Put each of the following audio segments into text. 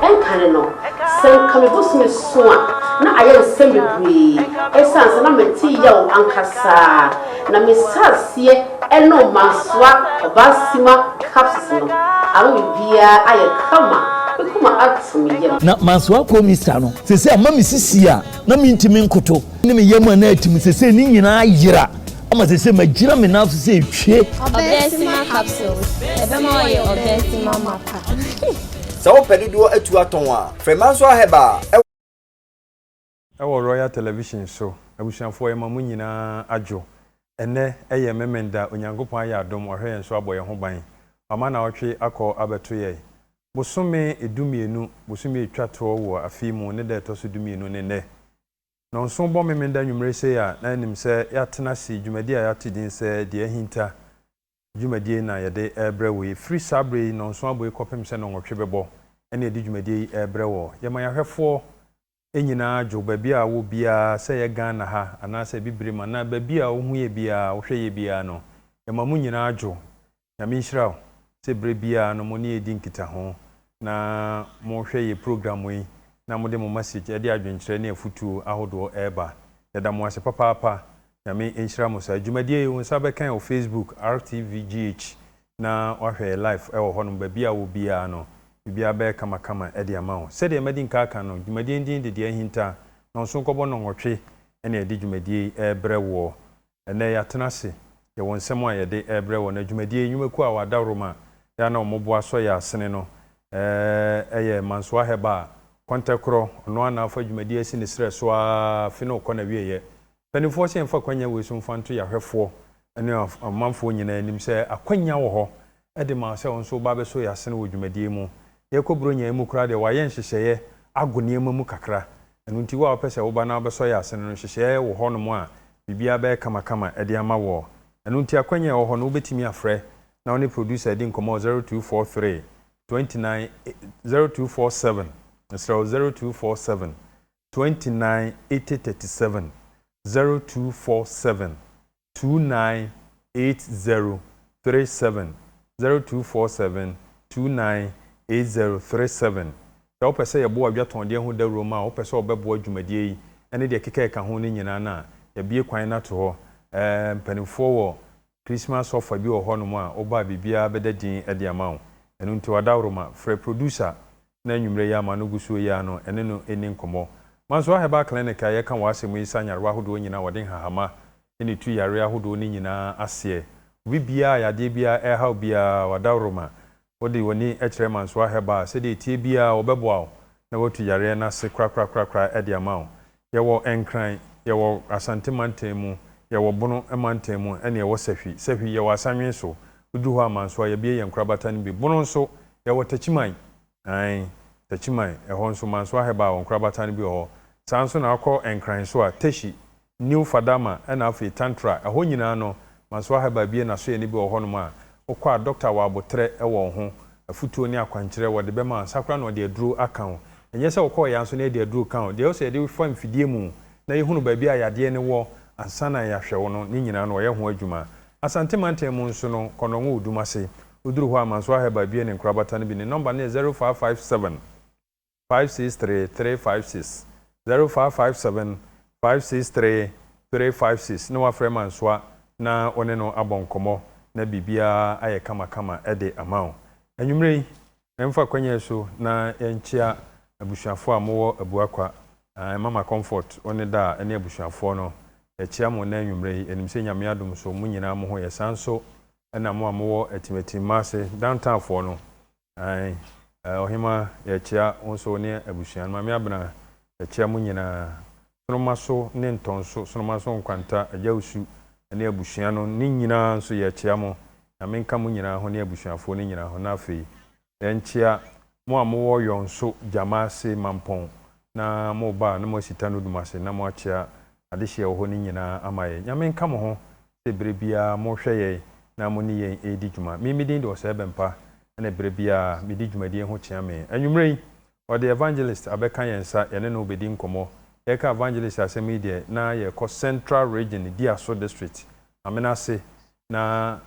Nkane no, sɛ anka me bosome so a, na ayɛ nsɛm bebree esiane sɛ na mete yaw ankasa. Na mehyɛɛ aseɛ nom Mansoir Obasima capsules no. Ama biribiara ayɛ kama, me koma ato me yam. Na Mansoir Commissar no, seesei ama me sisi a na mentumi nkoto, ne me yam a na atim, seesei ne nyinaa ayera. Ama sese magyina me nan so sɛ etwie. Ɔbɛnsima capsules, ɛbɛma ɔyɛ ɔbɛnsima mapa. Sɛ wopɛ dodoɔ atu atɔn a, frɛ Mansoir Herbal. Ɛwɔ Royal Television so. Abusuafoɔ yɛma mo nyinaa adwo. Ɛnnɛ yɛ Memenda, Onyankopɔn ayɛ adom wahwɛ yɛn so abɔ yɛn ho ban. Wama nawɔtwe akɔ abɛto yɛn. Bosome du mmienu, bosome etwa toɔ wɔ afei mu ne da ɛtɔ so du mmienu ne nnɛ. Nnɔnso bɔ Memeneda anwummere sei a na ɛnim sɛ yɛatena ase dwumadie a yɛato din sɛ Deɛ Ahinta dwumadie na yɛde rebrɛ wo yi. Firi saa berɛ yi nnɔnso abɔ yi kɔpem sɛ nnɔnwɔtwe bɛbɔ ɛna yɛde dwumadie yi rebrɛ wɔ. Yɛma yɛahwɛfoɔ nyinaa dwo baabi a wɔ biara sɛ ɛyɛ Ghana ha anaasɛ Abibirem anaa baabi a wohu yɛ biara wohwɛ yɛ biara no yɛma mo nyinaa dwo Nyame nhyira wo sɛ berɛ biara no mo ne yɛn di nkitaho na mo hwɛ yɛn program yi na mo de mo message ɛde adwenkyerɛ ne afutuo ahodoɔ ɛreba. Yɛda mo ase papaapa. Nyame nhyira mo saa. Dwumadie yi wo nsa bɛka ɛwɔ Facebook RTVGH na wahwɛ yɛn live ɛwɔ hɔ nom. Baabi a wɔ biara no biribiara bɛyɛ kamakama ɛde ama wo. Sɛdeɛ madi nka aka no dwumadie no din de Deɛ Ahinta, Nɔnso Nkɔbɔ Nnɔnwɔtwe na yɛde dwumadie yi ɛrebrɛ woɔ. Ɛnnɛ yɛatena ase, yɛwɔ nsɛm a yɛde rebrɛ wɔn. Na dwumadie yi, nnwumakuo a wɔadaworo ma yɛ a na wɔn bo asɔ yɛn asene no yɛ Mansoir Herbal, Kɔntɛkorɔ, ɔno ara na afa dwumadie asi ne serɛ so ara afe no rekɔ n'awieeɛ. Mpanimfoɔ sɛ yɛmfa akwannya wei so mfa nto yɛn ahwɛfoɔ ne ɔmanfoɔ nyinaa anim sɛ akwannya wɔ hɔ de ma wo sɛ wo nso woba abɛsɔ yɛn asene wɔ dwumadie yi mu. Yɛrekɔ Buronya yi mu koraa deɛ, wɔayɛ nhyehyɛeɛ ago nneɛma mu kakra. Ɛno nti, wo a wopɛ sɛ woba na wobɛsɔ yɛn asene no, nhyehyɛeɛ wɔ hɔnom a biribiara bɛyɛ kamakama de ama woɔ. Ɛno nti, akwannya a ɛwɔ hɔ no, wobɛtumi afrɛ na wo ne producer adi nkɔmmɔ wɔ zero two four three, twenty nine, zero two four seven, mesrɛ wo, zero two four seven, twenty nine, eighty thirty seven, zero two four seven, 298037, 0247298037. Sɛ wopɛ sɛ yɛboa dwatɔndeɛ ho dawuro ma a wopɛ sɛ wɔbɛboa dwumadie yi ne deɛ ɛkeka ɛka ho no nyinaa no a, yɛabue kwan no ato hɔ. Ɛɛ, mpanimfoɔ wɔ Christmas offer bi wɔ hɔnom a woba a biribiara bɛda din de ama wo. Ɛno nti, Ɔdaworo ma, frɛ producer na anwumerɛ yi a m'ano gu so yi ara no ɛne no nni nkɔmmɔ. Mansoa Herbal Clinic a yɛka wɔ asɛm mu yi sa nyarewa ahodoɔ nyinaa a wɔde nhahama ne tu yareɛ ahodoɔ no nyinaa aseɛ. Obi biara a yadeɛ biara ɛreha wo biara w'adaworoma wode w'ani kyerɛ Mansoa Herbal a sɛdeɛ ɛteɛ biara wɔbɛboa wo na watu yareɛ no ase korakorakorakora de ama wo. Yɛwɔ Nkran, yɛwɔ Asante mantam mu, yɛwɔ Bono mantam mu ɛna yɛwɔ Sahwi. Sahwi, yɛwɔ Asanwe nso. Wodu hɔ a Mansoa, yɛabue yɛn nkorabata no bi. Bono nso, yɛwɔ Takyiman. Ae, Takyiman, ɛhɔ nso Mansoa Herbal wɔ nkorabata no bi wɔ hɔ. Saa ara nso na wakɔ Nkran nso a, Teshie, New Fadama ɛna afei Tantra. Ɛhɔ nyinaa no, Mansoa Herbal abue n'asoɛe no bi wɔ hɔnom a, Wokɔ a, dɔkta wɔ aboterɛ wɔ wo ho, afutuo ne akwankyerɛ wɔde bɛma wo, nsa koraa na ɔde aduro aka wo. Ɛnyɛ sɛ wokɔ ɔya nso na yɛde aduro ka wo, deɛ ɛwɔ sɛ yɛde wo fa mfidie mu na yɛhunu baabi a yadeɛ no wɔ ansa na yɛahwɛ wo no, ne nyinaa no wɔyɛ ho adwuma. Asante mantam mu nso no, Kɔnnɔngo wɔ Dumase. Woduru hɔ a, Mansoir Herbal bue ne nkorabata no bi, ne nɔmba no yɛ zero five five seven. five six three three five six zero five five seven five six three three five six na wafrɛ Mansoa na wo ne no abɔ nkɔmmɔ na biribiara ayɛ kamakama de ama wo. Anwummerɛ yi, yɛmfa kwan yi so na yɛnkyea abusuafoɔ a mowɔ Abuakwa, Mama Comfort wo ne da a ɛne abusuafoɔ no. Yɛkyea mo nnɛ anwummerɛ yi. Yɛnim sɛ Nyame adom so mo nyinaa mo ho yɛ. Saa nso na mo a mowɔ Atim Atimma ase, Downtownfoɔ no, Aane, ɔhemaa, yɛkyea wo nso wo ne abusua no, Maame Abena, yɛkyea mo nyinaa, Sonomaso ne Ntɔnso, Sonomaso Nkwanta, Agya Osu ne abusua no ne nyinaa nso yɛkyea mo, Nyame nka mo nyinaa ho ne abusuafoɔ no nyinaa ho, na afei yɛnkyea mo a mowɔ Yɔnso, Gyamaase, Mampɔn na moba a na moasi Tano Dumase na moakyea adehyeɛ wɔ hɔ no nyinaa ama yɛn, Nyame nka mo ho sɛ berɛ biara mohwɛ yɛn na mo ne yɛn redi dwuma. Me, me din de Ɔsɛe Bɛmpa na berɛ biara medi dwumadie ho kyea me. Anwummerɛ yi, wɔde Evangelist abɛka yɛn nsa, yɛne no rebɛdi nkɔmmɔ. Yɛreka Evangelist asɛm yi deɛ, na yɛrekɔ Central Region, Biaso District, Amenase, na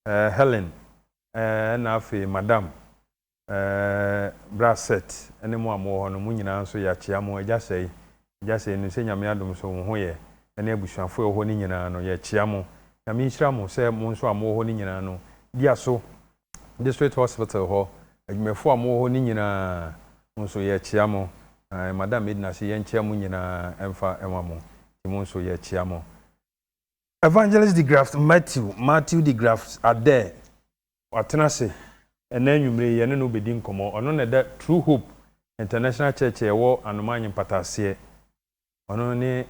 Helen, ɛna afei Madam Ɛɛɛɛ bra Seth ɛne mo a mowɔ hɔ no mo nyinaa nso yɛakyea mo, Agya Sɛe, Agya Sɛe no sɛ Nyame adom nso wo ho yɛ ɛne abusuafoɔ ɛwɔ hɔ no nyinaa no yɛkyea mo, Nyame nhyira mo sɛ mo nso a mowɔ hɔ no nyinaa no diaso District Hospital hɔ adwumafoɔ a mowɔ hɔ no nyinaa mo nso yɛkyea mo, Ɛɛɛɛ Madam Edna se yɛnkyea mo nyinaa ɛmfa ɛnwa mo nti mo nso yɛkyea mo, Evangelist DeGraff Matthew, Matthew DeGraff Adair, Watena ase. Ɛnnɛ anwummere yi, yɛne no bedi nkɔmmɔ. Ɔno na ɛda True Hope International Church a ɛwɔ Anomaa Nyempata aseɛ. Ɔno ne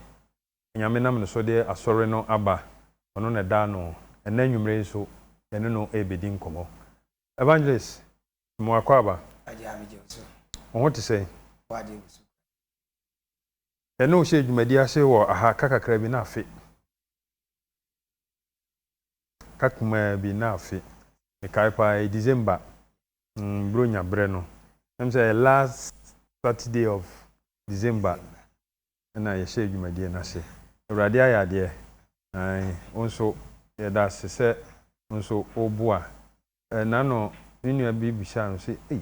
Nyame nam ne so de Asɔre no aba. Ɔno na ɛda ano. Ɛnnɛ anwummere yi nso, yɛne no rebedi nkɔmmɔ. Evangelist Simon Akwaaba, wo ho te sɛn? Yɛne wo hyɛɛ dwumadi ase wɔ ha ka kakra bi na afe. Ka kumaa bi na afe mekae paa ɛyɛ December mm bronya berɛ no na me sɛ ɛyɛ last Saturday of December ɛna yɛhyɛɛ dwumadie no ase Awurade ayɛ adeɛ ae wo nso yɛda ase sɛ wo nso wo boa ɛɛ nano me nua bi bisaa no sɛ ei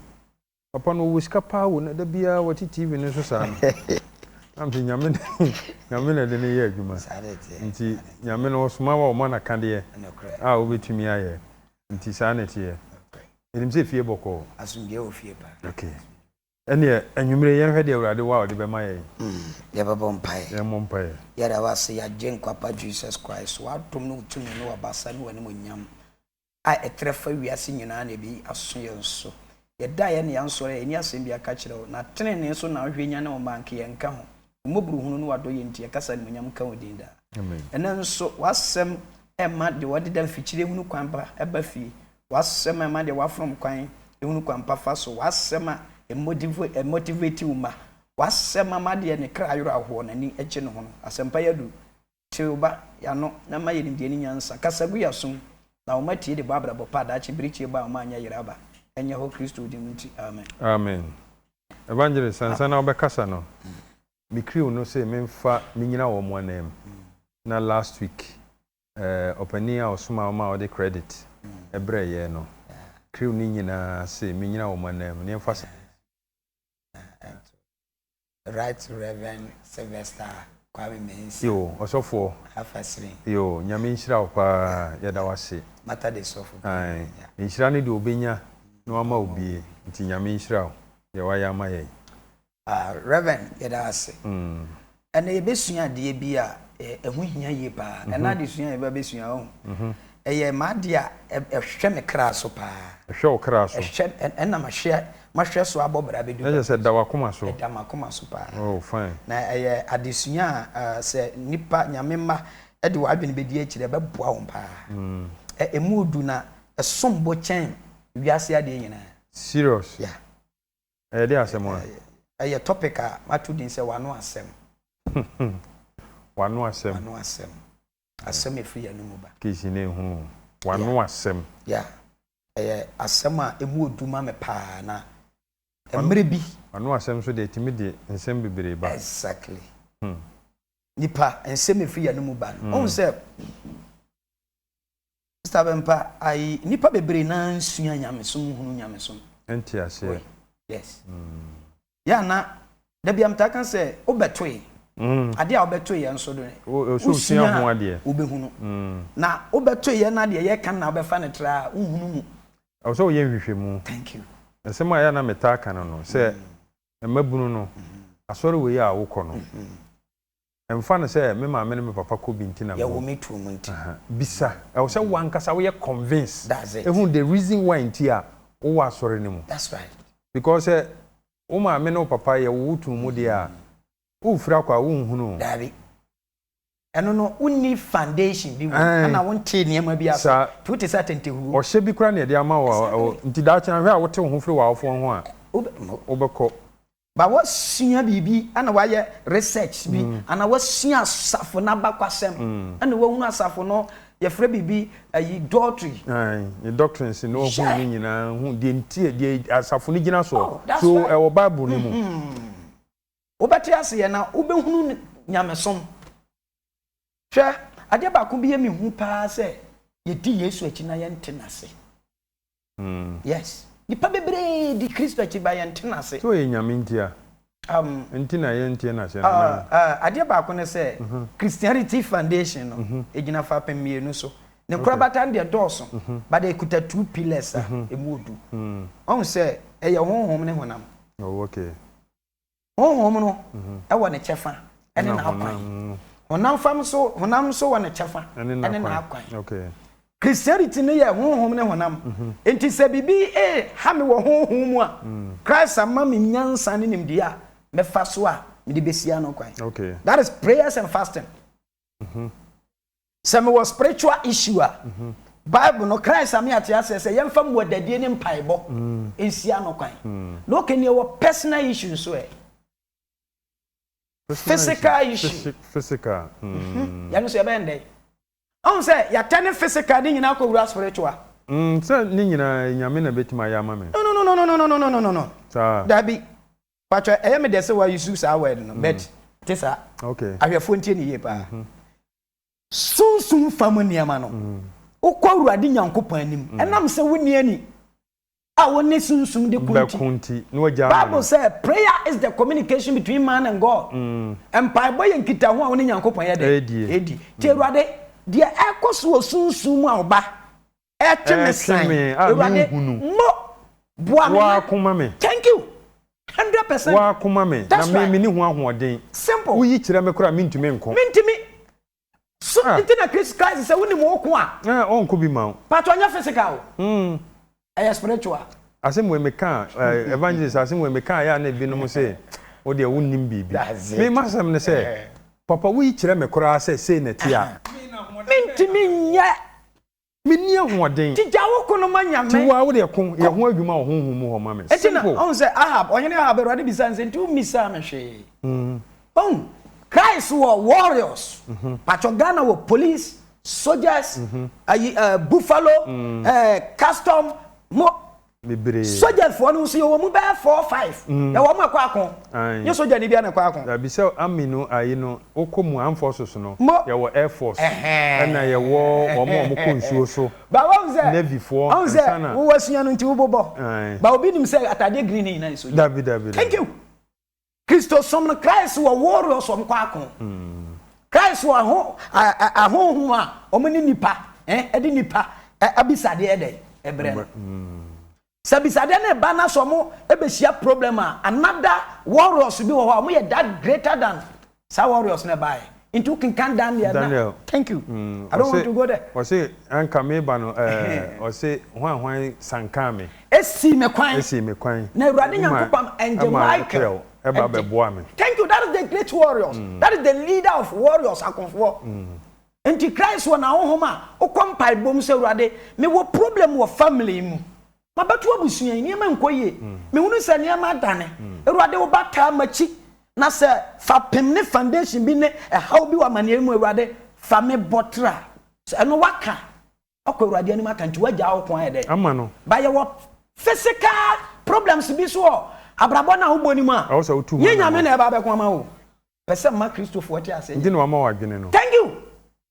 Papa no ɔwɔ sika paa o na da biara ɔte TV no so saa no na mese Nyame Nyame na ɛde no yɛ adwuma nti Nyame no ɔsoma wo a ɔma no akadeɛ a wobɛtumi ayɛ nti saa na ɛteɛ menim sɛ fie bɔkɔɔ asomdwoeɛ wɔ fie paa okay ɛneɛ anwumerɛ yɛnhwɛ deɛ Awurade wɔ a ɔde bɛma yɛn mm, yɛbɛbɔ mpaeɛ yɛmmɔ mpaeɛ yɛda wase yɛagye nkwapa Jesus Christ w'adom ne wotumi ne wabasa ne w'animonyam a ɛtrɛ fa wiase nyinaa na ɛbɛyi aso yɛn so. Yɛdaeɛ na yɛansɔre a, yɛnni asɛm biara ka kyerɛ wo, na tenenee so na wohwɛ nyane wo mma nka yɛnka ho. Wo mmɔborohunu ne w'adɔyɛ nti, yɛka sɛ animuonyam nka wo din daa. Ɛnnɛ nso, w'asɛm ma deɛ wɔdeda mfikyire hunu kwan pa ba fie, w'asɛm ma deɛ wɔafom kwan hunu kwan pa fa so, w'asɛm a ɛmotiveti wo ma, w'asɛm ma deɛ ne kra ayera hoɔ na ani gye ne ho no. Asɛmpa yi aduru Tew ba, y'ano, na ma yɛ nimdeɛ ne nyansa, kasa gu y'asom, na wɔn atie de bɔ abrabɔ pa a daakye bere tiebɔ a wɔn anyɛ yera aba, ɛnyɛ hɔ Kristo din nti, amen. Amen. Evangelist, ansa na wobɛkasa no, me crew no se memfa menyina wɔn ananmu, na last week eh, ɔpanin a ɔsomaa wɔn a ɔde credit brɛɛ yɛn no, crew no nyinaa se menyina wɔn ananmu, na yɛmfa saa nsi wɔn so. Right Rev Sylvester Kwame Mensah. Yoo ɔsɔfoɔ. Alpha Slim. Yoo Nyame nhyira wo paa yɛda wo ase. Mata de sɔfo pii na nya. Ae nhyira ne deɛ ɔbɛnya na wama wo bie nti Nyame nhyira wo deɛ wayɛ ama yɛn. Ah Rev yɛda wo ase. Ɛnɛ yɛbɛsua adeɛ bi a ɛho hia yie paa. Ɛnɛ adesua a yɛba bɛsua wohu. Ɛyɛ m'adeɛ a ɛhwɛ me kra so paa. Ɛhwɛ wo kra so. Ɛhwɛ, ɛna mahwɛ, mahwɛ so abɔ bra bɛdu baabi. Na kyerɛ sɛ ɛda w'akoma so. Ɛda m'akoma so paa. Oh, fine. Na ɛyɛ adesua a uh, sɛ nnipa, Nyame mma, de wɔn adwene bɛdi akyire a, ɛbɛboa wɔn paa. Ɛ, ɛmu du na ɛsom bo kyɛn wiase adeɛ nyinaa. Serious? Yeah. Ɛyɛ deɛ asɛm a? Ɛ, ɛyɛ topic a mato din sɛ W'ano Asɛm. W'ano Asɛm. W'ano Asɛm. Asɛm a ɛfiri yɛn anomu ba. Kesi na ehunu w'ano asɛm. Yeah, ɛyɛ asɛm a emu wɔ du ma me paa na mmerɛ bi. W'ano asɛm nso deɛ ɛtumi de nsɛm bebree ba. Exactly. Hmm. Nipa, nsɛm a ɛfiri yɛn anomu ba no, ɔhu sɛ. Stubborn pa ayi nipa bebree naa nsua nyamesom nhunu nyamesom. Ɛnte aseɛ. Wɛ yes. Yɛ ana dabi amtaa ka sɛ wobɛtoe adeɛ a wobɛtoe yɛ nso do wosua ho adeɛ wobɛhunu na wobɛtoe yɛ na adeɛ yɛ ka na wobɛfa ne tra a wohunu mu. Ɛwɔ sɛ woyɛ nhwehwɛmu. Thank you. Nsɛm a yɛ ana metaa ka no no sɛ mmabunu no asɔre wei a wokɔ no. Ɛmfa no sɛ me maame ne me papa kɔ bi nti na mewɔ. Yɛwɔ me tuo mu nti. Bisa. Ɛwɔ sɛ wo ankasa woyɛ convince. That's it. Ehu the reason why nti a wowɔ asɔre no mu. That's right. Because sɛ wo maame ne wo papa yɛ wo wo tuo mu deɛ a, wofiri akɔ a wonhunu o. Daabi. Ɛno no wonni foundation bi wɔ mu. Aane. Ɛna wontee nneɛma bi ase. Saa. Nti wote sɛ atɛntɛhuo. Ɔhyɛ bi koraa na yɛde ama wo a, Exactly. nti daakye no hwɛ a wote wo ho firi w'awofoɔ ho a, Wobɛ, mo. wobɛkɔ. Ba wasua biribi na wayɛ research bi anaa wasua asafo no abakwasɛm na wahunu asafo no yɛfrɛ biribi ayi doctrine. Ae, ne doctrines na wahu ne nyinaa, hu deɛ nti a deɛ asafo no gyina soɔ. Oh, that's so, right. So ɛwɔ Bible no mu. Wobɛte aseɛ na wobɛhunu nyamesom. Hwɛ, adeɛ baako bi yɛ mehu paa sɛ yɛdi Yesu akyi na yɛnte n'ase. Yes nipa bebree di kristo akyi ba yɛn nte no ase. Sɛ ɔyɛ nyame nti a nti na yɛn nteɛ no ase anaa. Adeɛ baako ne sɛ christianity foundation no ɛgyina fapem mmienu so ne nkorabata no deɛ dɔɔso but ɛkuta two pillars a ɛmu ɔdu wahu sɛ ɛyɛ honhom ne honam. Oh okay. Honhom no wɔ ne kyɛfa ne n'akwan. Honam fam nso, honam nso wɔ ne kyɛfa ne n'akwan. Christianity no yɛ honhom ne honam. Nti sɛ biribi reha me wɔ honhom mu a, Christ ama me nyansa ne nimdeɛ a mɛfa so a mede bɛsi ano kwan. That is prayers and fasting. Sɛ mewɔ spiritual issue a, Bible no, Christ ama yɛate aseɛ sɛ yɛmfa mmuadadie ne mpaebɔ nsi ano kwan. Na okay neɛ wɔ personal issue nso ɛ? Physical issue. Physical. Yɛno nso yɛbɛyɛ no dɛn? Ɔhu sɛ yɛatɛne physical ne nyinaa kɔwura spiritual. Sɛ ne nyinaa Nyame na bɛtumi ayɛ ama me. Nonononononononononono. Saa. Daabi. Pakyɛ ɛyɛ me dɛ sɛ wa use saa word no but ɛte saa. Okay. Ahwɛfoɔ ntie no yie paa. Sunsum fam nneɛma no, wokɔ Awurade Nyankopɔn anim ɛnam sɛ wonni ani a wone sunsum de ko nti. Bible sɛ prayer is the communication between man and God. Mpaebɔ yɛ nkitaho a wone Nyankopɔn yɛ dɛ? Edi. Nti Awurade, deɛ ɛrekɔ so wɔ sunsum mu a ɔba ɛretwe me san awurade mo boa me waakoma me thank you hundred percent waakoma me na me me ne ho ahoɔden simple woyi kyerɛ me koraa mentumi nko mentumi so ah. nti na christ christ sɛ wonim wo ko a ah, ɔnko bi ma wo patɔ nyɛ physical mm. ɛyɛ spiritual asɛm wei meka eh, evangelist asɛm wei meka yɛ a na ebinom sɛ wo deɛ wonnim biribi me masɛm no sɛ eh. papa woyi kyerɛ me koraa sɛ sei na ɛte a mentumi nyɛ Menni ahoɔden. Nti gya wo ko no ma Nyame. Nti wo ara wodeɛ ko yɛ ho adwuma wɔ honhom mu hɔ ma me. Simple. Nti na, ɔhu sɛ, Ahab, Ɔhene Ahab, Awurade bisaa no sɛ, Nti wommisaa me hwee? Ɔhu? Christ wɔ warriors, pakyɛ Ghana wɔ police, soldiers, ayi eh, buffalo, eh, custom, mo, bebree. Sogya foɔ no nso yɛwɔ mu bɛyɛ four five mm. yɛwɔ mu ɛkɔ ako nyɛ sogya ni bia na ɛkɔ ako. dabi sɛ ami no ayi no wokɔ mu armed forces no yɛwɔ air force ɛna yɛwɔ wɔn a wɔkɔ nsuo so navy foɔ nsa na. wowɔ sua no nti wobobɔ ba obi nim sɛ atadeɛ green ne nyinaa yɛ sogya. dabi dabi dabi thank you. Kristosom no, Christ wɔ warriors wɔn kɔ ako. Christ wɔ ɛho ahonhom a wɔn ne nipa ɛde nipa abisadeɛ ɛdɛ ɛbrɛ no. Sɛ abisadeɛ no ba na sɛ wɔn ɛbɛhyia problem a, another warriors bi wɔ hɔ a wɔn yɛ that greater than Saa warriors no ɛbaeɛ nti wo kenkan Daniel na Daniel thank you mm I don't want to go there. Ɔse anka meba no ɛɛ ɔse hwan hwan san kaa me. Esii me kwan. Esii me kwan. Na Awurade Nyankopɔn ɛngye Michael ɛba bɛboa me. Thank you that is the great warriors mm that is the leader of warriors akonfoɔ mm nti Christ wɔ na honhom a wokɔ mpaebɔ mu sɛ Awurade mewɔ problem wɔ family mu Mabɛto abusua yi nneɛma nkɔ yie. Mehunu sɛ nneɛma adane. Awurade wo ba taa makyi na sɛ fapem ne foundation bi ne ɛhaw bi wɔ amaneɛ mu Awurade fa me bɔ tra. Sɛ ɛno waka wakɔ Awurade anim aka nti wagyaa wo ko ayɛ dɛ ama no. But yɛwɔ physical problems bi so wɔ abrabɔ no a wobɔ no mu a nyɛ Nyame na ɛba abɛko ama wo. Pɛ sɛ ma Kristofoɔ te aseɛ. Nti na wama wo adwene no. Thank you.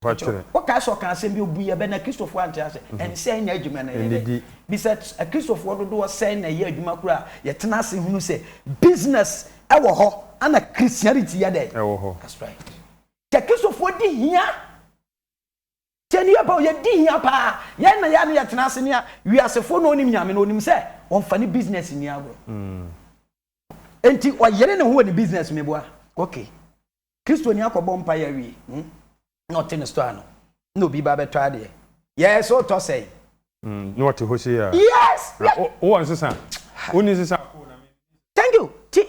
Kyerɛ, wokae sɛ ɔkaa asɛm bi, obui bɛ na Kristofo ante ase? Ɛnsɛ nya adwuma no yɛ dɛ. Bisa Kristofo dodoɔ sɛn na ɛyɛ adwuma koro a yɛtena ase hunu sɛ business wɔ hɔ na Christianity yɛ dɛn? Ɛwɔ hɔ. That's right. Kyɛ Kristofo di hia. Kyɛ ne yɛ pɛ o, yɛdi hia paa. Yɛn na yɛ a na yɛtena ase ne wiasefo na ɔnim Nyame no, ɔnim sɛ ɔmfa ne business nni agorɔ. Enti ɔyere ne ho wɔ ne business, meboa? Okay. Kristoni akɔbɔ mpaeɛ awie na ɔte ne store ano na obi ba bɛtɔ adeɛ. Yes, wotɔ sɛn? Mm, na ɔte hɔ sei a. Yes! Na wo- wowɔ nsesa? Wonni nsesa? Thank you. Ti.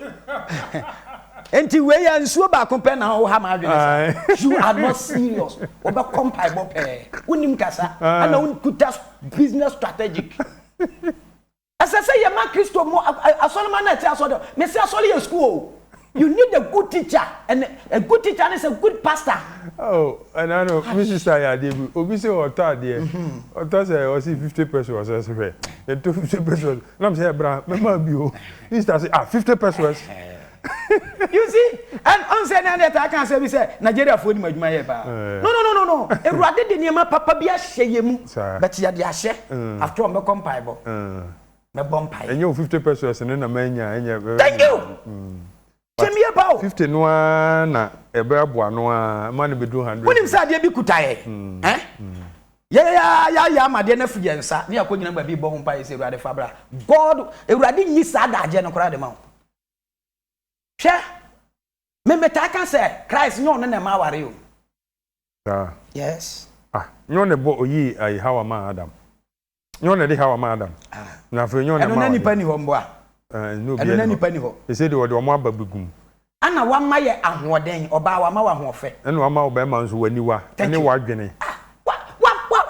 Enti wei yɛ nsuo baako pɛ na woha m'adwene saa. Aye. You are not serious. Wobɛkɔ mpaebɔ pɛɛ. Wonim kasa. Aye. Ɛna wokuta business strategic. Ɛsɛ sɛ yɛma Kristo mu asɔremma no a ɛte asɔre hɔ. Mese asɔre yɛ sukuu oo. You need a good teacher and a good teacher is a good pastor. Oh ɛnanom me sister yɛ adeɛ bi obi se ɔtɔ adeɛ ɔtɔ sɛ ɔse fifty pesos ɔse hwɛ yɛtɔ fifty pesos nam sɛ bra mɛma bi o ne sister se ah fifty pesos. You see, and ɔn sɛ na yɛ taa ka asɛm bi sɛ Nigeria foɔ nim adwuma yɛ paa. No no no no no, Awurade de nneɛma papa bi ahyɛ yɛ mu, but yɛ de ahyɛ, after all mɛkɔ mpaebɔ, mɛbɔ mpaeɛ. Ɛnyɛ wo fifty pesos no na manya ɛnyɛ. Thank you! Hyɛ me yie paa o. Fifty no ara na ɛbɛ aboa no ara ma no bɛduru hundred. Wonim sɛ adeɛ bi kuta yɛ, eh, yɛ yɛ ara yɛ ayɛ ama adeɛ no afiri yɛn nsa, ne yɛakɔ gyina baabi rebɔ ho mpaeɛ sɛ Awurade fa bra, God, Awurade nyi saa adagyeɛ no koraa de ma wo. Hwɛ, me metaa ka sɛ Christ nyɛ ɔno na ɛma aware o. Saa. Yes. Ah, nyɛ ɔna ɛbɔ ɔyii ayi Hawa maa Adam. Nyɛ ɔna ɛde Hawa maa Adam. Ah. Na afei nyɛ ɔna ɛma aware. Ɛno na nipa ni hɔ mboa. Eh, ɛno obi ɛno na nipa ni hɔ. Ɛsɛ de wɔde wɔn aba bigum. Ana wama yɛ ahoɔden, ɔbaa wama wɔ ahoɔfɛ. Ɛna wama ɔbɛrima nso w'aniwa ɛne w'adwene. Ah,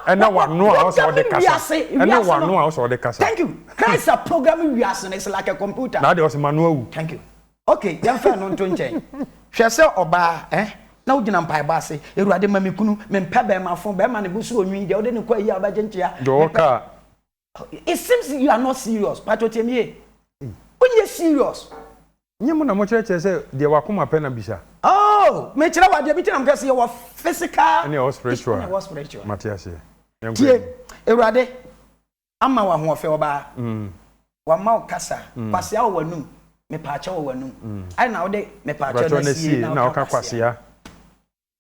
Ɛne w'ano a ɔsɛ ɔde kasa. Ɛne w'ano a ɔsɛ ɔde kasa. Thank you. Christ a programming wiase no is like a computer. Na adeɛ ɔsɛ ma no awu. Thank you. Okay, yɛmfa ɛno nto nkyɛn. Hwɛ sɛ ɔbaa eh, na wogyina mpaebɔ ase, Awurade ma me kunu, mempɛ bɛɛmafo, bɛɛma ne bo so onwi, deɛ wode no kɔ ayi a wobɛgye nkyea, mepɛ. Deɛ ɔwɔ kaa, It seems you are not serious. Pacho tie me yie. Wonyɛ serious. Nyɛ mo na mo kyerɛkyerɛ sɛ deɛ wakoma pɛ na bisa. Oh! Me kyerɛ wo adeɛ bi nti na me ka sɛ yɛwɔ physical. Ɛna ɛwɔ spiritual. Ɛna ɛwɔ spiritual. Mate aseɛ. Tie, Awurade ama wo ahoɔfɛ ɔbaa. Wama wo kasa. Kwasea wɔ w'anum. Mepaakyɛ wɔ w'anum. Ayɛ na wode mepaakyɛ no asie na woka kwasea.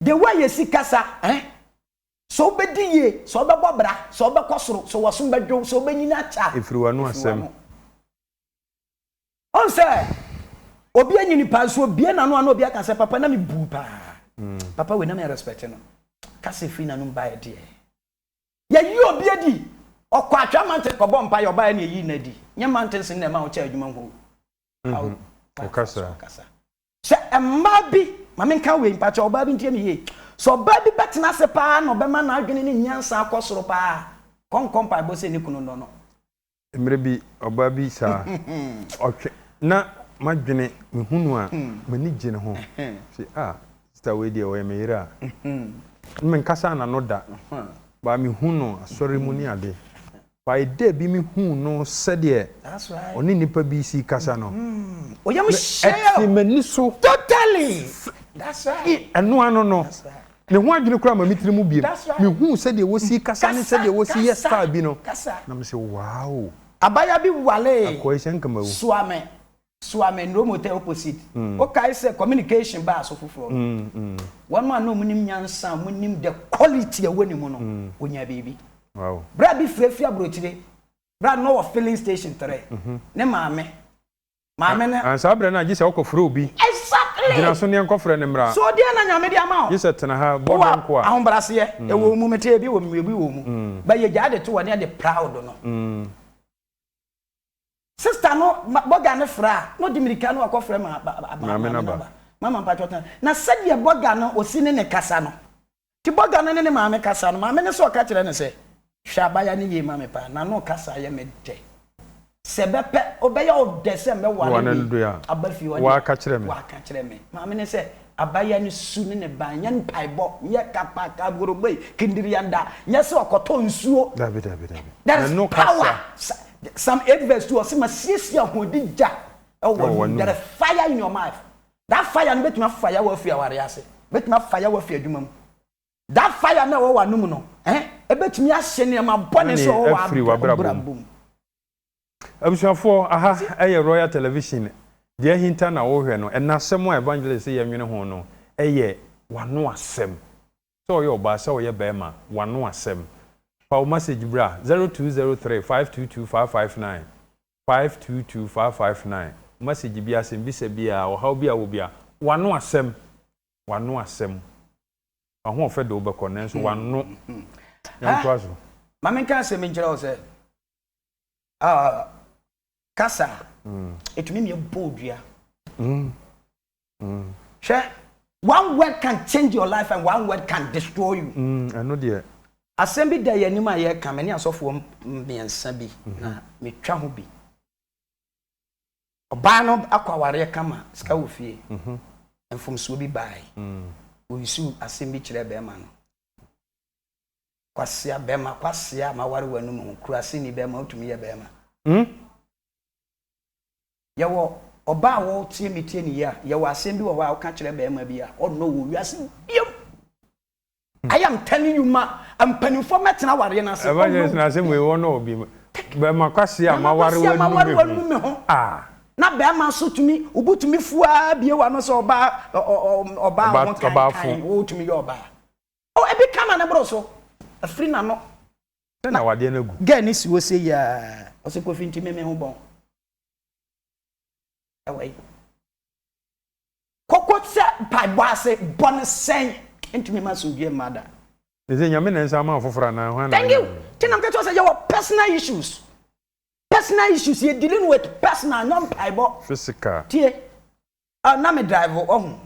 The way yɛsi kasa eh Sɛ wobɛdi yie Sɛ wobɛbɔ bra Sɛ wobɛkɔ soro Sɛ w'asom bɛdwo wo Sɛ wobɛnyini akyɛ a Ɛfiri w'ano asɛm Wohu sɛ obi anyini paa nso obie n'ano a na obi aka sɛ papa na me buu paa mm. papa wei na me respect no kasa ɛfiri n'anom baeɛ deɛ yɛyi obi adi ɔkɔ atwa mountain kɔbɔ mpa yɛ ɔbaeɛ na ɛyi no adi nyɛ mountains no na ɛma wokyɛ adwuma ho mm-hmm. ɔkasa Sɛ mmaa bi, ma menka wei mpakyɛw, ɔbaa bi ntie me yie, sɛ ɔbaa bi bɛtena ase pa ara na ɔbɛma n'adwene ne nyansa akɔ soro pa ara a, ɔnkɔ mpaebɔ sɛ ne kunu nnɔ no. Mmerɛ bi, ɔbaa bi saa, ɔtwe, na m'adwene, mehu no a, m'ani gye ne ho. Mese, ah, sista wei deɛ, ɔyɛ me yere a. Menkasaa n'ano da, but mehu no asɔre mu ne adeɛ. By day bi me huu no sɛdeɛ ɔne nnipa bi si kasa no, me ɛtee m'ani so firi ɛno ano no, me ho adwene koraa ma me tiri mu biem, me huu sɛdeɛ wɔsi kasa ne sɛdeɛ wɔsi yɛ style bi no, na me se wow. Abaayewa bi waree, Akoy sɛ nka mawu. soa me. Suame Nromotae Opposite, Wokae sɛ communication baa so foforɔ no, wɔnom a na wɔnim nyansa a wɔnim the quality a ɛwɔ ne mu no, wɔnyaa biribi. Bra bi frɛ firi aburokyire, bra no na ɔwɔ filling station tere, ne maame, maame no. And saa berɛ no a gye sɛ wokɔ frɛ obi. Exactly! Gyina so neɛ nkɔfrɛ no mmra. So deɛn na Nyame de ama wo? Gye sɛ tena ha, bɔ donko a. Wowɔ ahobraseɛ, ɛwɔ wo mu, mete ebi wɔ mu, ebi wɔ wo mu, but yɛgyae de to hɔ na yɛde proud no. Sister no ma burger no frɛ a, na ɔde mmirika no akɔfrɛ ma ba ba ba Maame no aba. Mama mpakyɛw tena. Na sɛdeɛ burger no ɔsi ne ne kasa no, nti burger no ne ne maame kasa no, maame no nso reka kyerɛ no sɛ, Hwɛ abaayewa no yie ma me paa, n'ano kasa yɛ me dɛ. Sɛ ɛbɛpɛ, ɔbɛyɛ ɔdɛ sɛ mɛware wei aba fie hɔ deɛ, waka kyerɛ me. Maame no sɛ, Abaayewa no su ne ne ban, nyɛ mpaebɔ, nyɛ kapa, kaboroboi, kindirianda, nyɛ sɛ ɔkɔtɔ nsuo. Dabi, dabi, dabi. There is power. Psalm 8 verse 2, ɔse masiesie ahoɔdi gya ɛwɔ w'anom. There is fire in your mouth. That fire no bɛtumi afa yaw afiri awareɛ ase, bɛtumi afa yaw afiri adwuma mu. That fire no ɛwɔ w'anom no, eh, ɛbɛtumi ahye nneɛma bɔne nso ɛwɔ w'abrabɔ mu. Abusuafoɔ, aha yɛ Royal Television, deɛ ahinta na wohwɛ no, ɛnna asɛm a Evangelist yɛ nwene ho no yɛ w'ano asɛm, sɛ ɔyɛ ɔbaa sɛ ɔyɛ barima, w'ano asɛm. Fa wo message bra, zero two zero three five two two five five nine, five two two five five nine, message biara, asɛmbisa biara, ɔhaw bi a wɔ biara, w'ano asɛm, w'ano asɛm, w'ahoɔfɛ de wo bɛkɔ, nanso w'ano, yɛntoa so. Ma menka asɛm bi nkyerɛ wo sɛ, Ah, kasa a ɛtumi ne ɛbɔ odua. Mm. Mm. Hwɛ, one word can change your life and one word can destroy you. Mm, ɛno deɛ. Asɛm bi da yɛn anim a yɛreka me ne asɔfoɔ mmiɛnsa bi mhm. na metwa ho bi. Ɔbaa no akɔ awareɛ kama sika wɔ fie. Mhm. Mfomsoɔ bi baae. Mm. Wɔyusu asɛm bi kyerɛ bɛrima no. Kwasea bɛma kwasea a maware wo anum ho kura se ni bɛma wotumi yɛ bɛma. Hmm. Yɛwɔ ɔbaa a ɔretie me tie ne yie a yɛwɔ asɛm bi wɔ hɔ a woka kyerɛ bɛma bi a ɔnnɔ wo wɔ wiase biom I am telling you ma mpanimfoɔ mɛtena awareɛ no ase ɔnnɔ wo na asɛm wei ɔnnɔ wo bi bɛma kwasea a maware wo anum me ho ah. Na bɛma nso tumi wobu tumi fu ara bie w'ano sɛ ɔbaa ɔbaa ho kankan wotumi yɛ ɔbaa. Oh ebi ka na ne boro so. Afiri n'ano. Sɛ na wadeɛ no agu. Girl no si hɔ sei aa. Ɔse Kofi nti me me ho bɔn. Ɛwɔ yi. Koko sɛ mpaebɔ ase bɔ no sɛn. Ɛntumi ma asomdwie mma da. Te sɛ Nyame na nsa ama afoforɔ anaa hwan na Thank you. Nti na meka kyerɛ wo sɛ yɛwɔ personal issues. Personal issues yɛ dealing with personal nyɛ mpaebɔ. Physical. Tie. Ah na me drive ɔhu.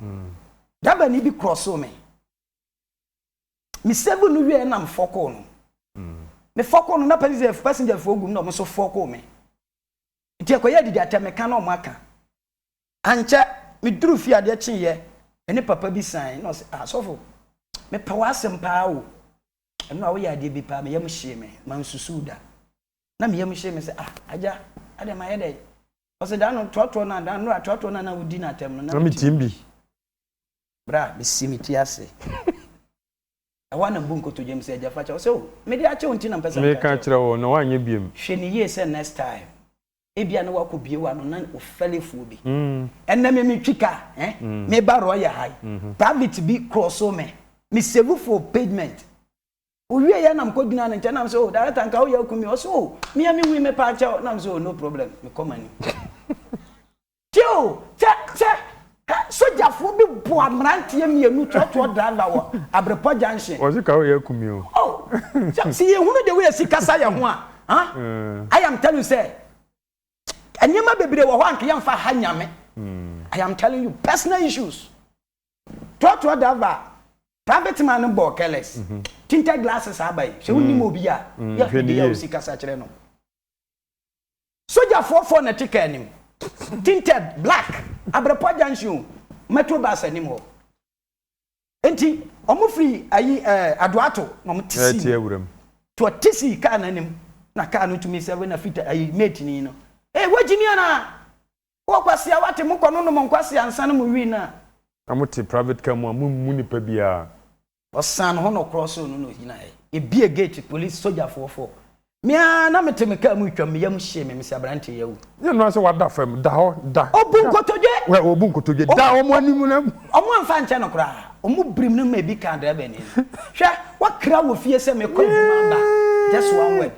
Dabani bi cross me. Me sɛgu no wieɛ na mefɔkoo no. Mefɔkoo no na passenger passenger foɔ gu mu na ɔmo nso fɔkoo me. Nti ɛkɔyɛɛ dede atɛ me ka na ɔmo aka. Ankyɛ me duru fie adeɛ kyeeɛ me ne papa bi sane na ɔse ah sɔfo mepɛ w'asɛm paa o ɛno a woyɛ adeɛ bi paa me yam hyee me mansusuu da na me yam hyee me sɛ ah agya adeɛ mayɛ dɛn ɔse da no toatoɔ no a da no a toatoɔ no a na wodi no atɛm no na metim bi. Bere a masi me ti ase Ɛhɔ ara na mibu nkotodwe mise Agya fa kyɛ. Ɔse oh mede akyɛ wo nti na mpɛ sɛ meka kyerɛ kyerɛ wo na woanyɛ biom. Hwɛ no yie sɛ next time ebia na woakɔ bue w'ano na wo fɛle fuo bi. Ɛnnɛ me metwi ka eh meba Roya ha yi private bi crossoo me me save for pavement owie yɛ na mekɔ gyinaa ne nkyɛn na mise oh director nka woyɛ akum me ɔse oh mea me hui me paa kyɛw na mise oh no problem mekɔ m'anim. Teo, Kyɛ, kyɛ! Hɛ! Sogyafoɔ bi boa mmeranteɛ mmienu trɔtrɔ driver wɔ Abrepɔ Junction. Wɔse ka woyɛ akum me o. Oh! Sɛ, sɛ yɛhunu the way asi kasa yɛn ho a, huh? I am telling you sɛ, nneɛma bebree wɔ hɔ a anka yɛmfa ha Nyame. I am telling you, personal issues. Trɔtrɔ driver, private man no bɔɔ careless, tinted glasses aba yi, sɛ wonnim obi a, yɛ hwɛ the way a osi kasa kyerɛ no. Sogyafoɔ foɔ na ɛte car anim. Tinted, black, Abrɛpɔ junction o, metro bus anim hɔ. Enti, wɔn firi ayi ɛɛ Adoato na wɔn te sii mu. Nti wɔte sii car no anim na car no tumi sɛve na fita ayi mate ni no. Ee wagyimi anaa? Wowɔ kwasia wate mokɔ no nom nkwasia nsa no mo wii no a. Na mote private car mu a mo mmu nipa biara. Ɔsan ho na ɔkorɔ soro no na ɔgyinaeɛ. Yɛbie gate, polisi, sogyafoɔ four. Me ara na mete me kaa mu retwam, me yam hyee me, mese aberanteɛ yi awu. Nyɛ noaa sɛ wada fam, da hɔ, da. Ɔbu nkotodwe! Wɛ, ɔbu nkotodwe, da wɔn anim na. Wɔn amfa ankyɛ no koraa, wɔn birim no ma ebi kaa driver ni no. Hwɛ, woakra wɔ fie sɛ mekɔ adwuma aba, just one word.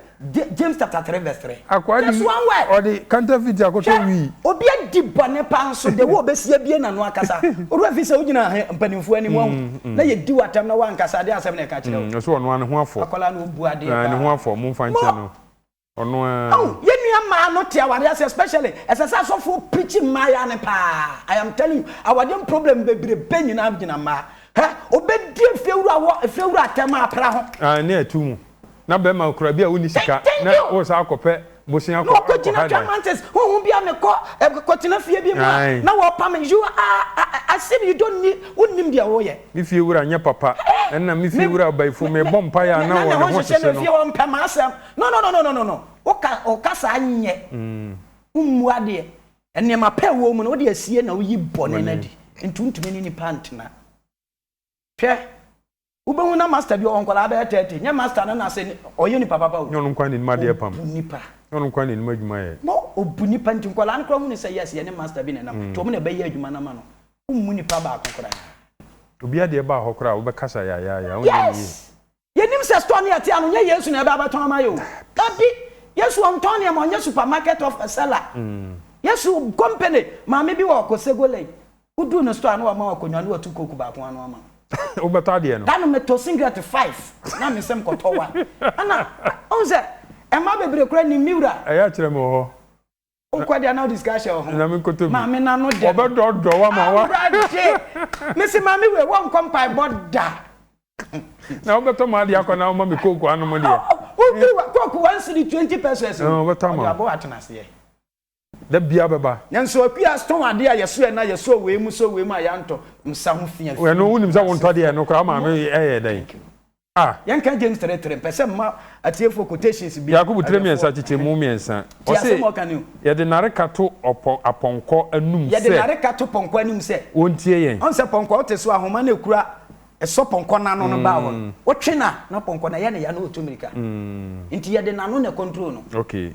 James chapter three verse three. Akoa de ɔde kantafiti akɔtɔ wii. Hwɛ obi adi bɔne paa nso de wo obesi abie n'ano akasa. Ɔwura efi sɛ wogyina he mpanimfoɔ anim ahu na yɛdi wo atɛm na woankasa adeɛ asɛm na ɛka kyerɛ wo. Ɔsɛ ɔno ara ne ho afɔ. Akwadaa no obu adeɛ paa. Ne ho afɔ mo nfa nkyɛn no. Ɔno ara. Aw yɛn nua mmaa no te awadeɛ ase especially ɛsɛ sɛ asɔfoɔ preachi mmaayaa no paa I am telling you awadeɛm problem bebrebe nyinaa gyina mmaa. Hwɛ obedi efiewura wɔ efiewura atɛm a pra ho. Aane atu mu. Na bɛrima okura bi a wonni sika na woresan akɔpɛ bosea akɔ akɔha no. Na ɔkɔgyina Diamantes honhom bi a mekɔ kɔtena fie bi mu a na wɔrepa me. You are as if you don't need wonnim deɛ woreyɛ. Me fie wura nyɛ papa. Ɛnna me fie wura Ɔbaifo mebɔ mpaeɛ a na ɔne ho hyehye no. Na ne ho nhyehye no fie hɔ mpɛ m'asɛm. No no no no no woka woka saa nyɛ. Wommu adeɛ. Nneɛma pa a ɛwɔ wo mu no wode asie na woyi bɔne no adi. Nti wontumi ne nnipa ntena. Hwɛ. Wobɛhu na master bi ɔwɔ nkwadaa bɛyɛ thirty, nyɛ master no na sɛ ɔyɛ nipa papa o. Nyɛ ɔno nko ara na anim adeɛ pam. Ɔbu nipa. Nyɛ ɔno nko ara na anim adwuma yɛ. No, ɔbu nipa nti nkwadaa no koraa hu no sɛ yes yɛne master bi na ɛnam, nti wɔn na ɛbɛyɛ adwuma no ama no. Wommu nipa baako koraa. Obiara deɛ ɛbaa hɔ koraa a wobɛkasa yayaayaa, wonyɛ no yie. Yes! Yɛnim sɛ store no yɛte ano, nyɛ Yesu na ɛba abɛtɔn ama yɛ o. Dabi! Yesu ɔntɔn nneɛma, ɔnyɛ supermarket of a seller. Yesu company, maame bi wɔ Kosego Lane, Woduu no store a na wama wo akonnwa na watu coke baako ano ama wo. Wobɛtɔ adeɛ no? Da no metɔ singlet five na me nsam kɔtɔ wa. Ɛna wohu sɛ mmaa bebree koraa nim me wura. Ɛyɛ akyerɛ me wɔ hɔ. Wokɔ deɛ a na wode sika ahyɛ wo ho. Na menkɔtɔ bi. Maame no ano dɛ no. Wɔbɛdɔɔdɔɔ wo ama wa. Awurade! Mese maame wei wɔnkɔ mpaebɔ da. Na wobɛtɔ m'adeɛ akɔ na woma me coke anom deɛ. Woduru hɔ a coke one cedi twenty pesos. Ɔbɛtɔ ama wo. Ɔde abɔ wo atenaseɛ. Da biara bɛba. Nanso Akua tɔn adeɛ a yɛso yɛ na yɛso wei mu so wei mu a yɛantɔ nsa ho fi afi. Ɛno wonim sɛ wontɔ deɛ ɛno koraa maame ɛyɛ dɛn ah. Yɛnka James three three mpɛ sɛ mma atiefoɔ quotations bi. Yakobo tire mmiɛnsa kyekyɛ mu mmiɛnsa. Tie asɛm a ɔka no. Ɔse yɛde nareka to ɔpɔ apɔnkɔ anum sɛ. Yɛde nareka to pɔnkɔ anim sɛ. Wɔntie yɛn. Ɔhu sɛ pɔnkɔ wote so ahoma no ɛkura ɛsɔ pɔnkɔ no ano no ba hɔ no wotwe no a na pɔnkɔ no ɛyɛ ne ya na ɔtu mmirika nti yɛde n'ano na control no. Okay.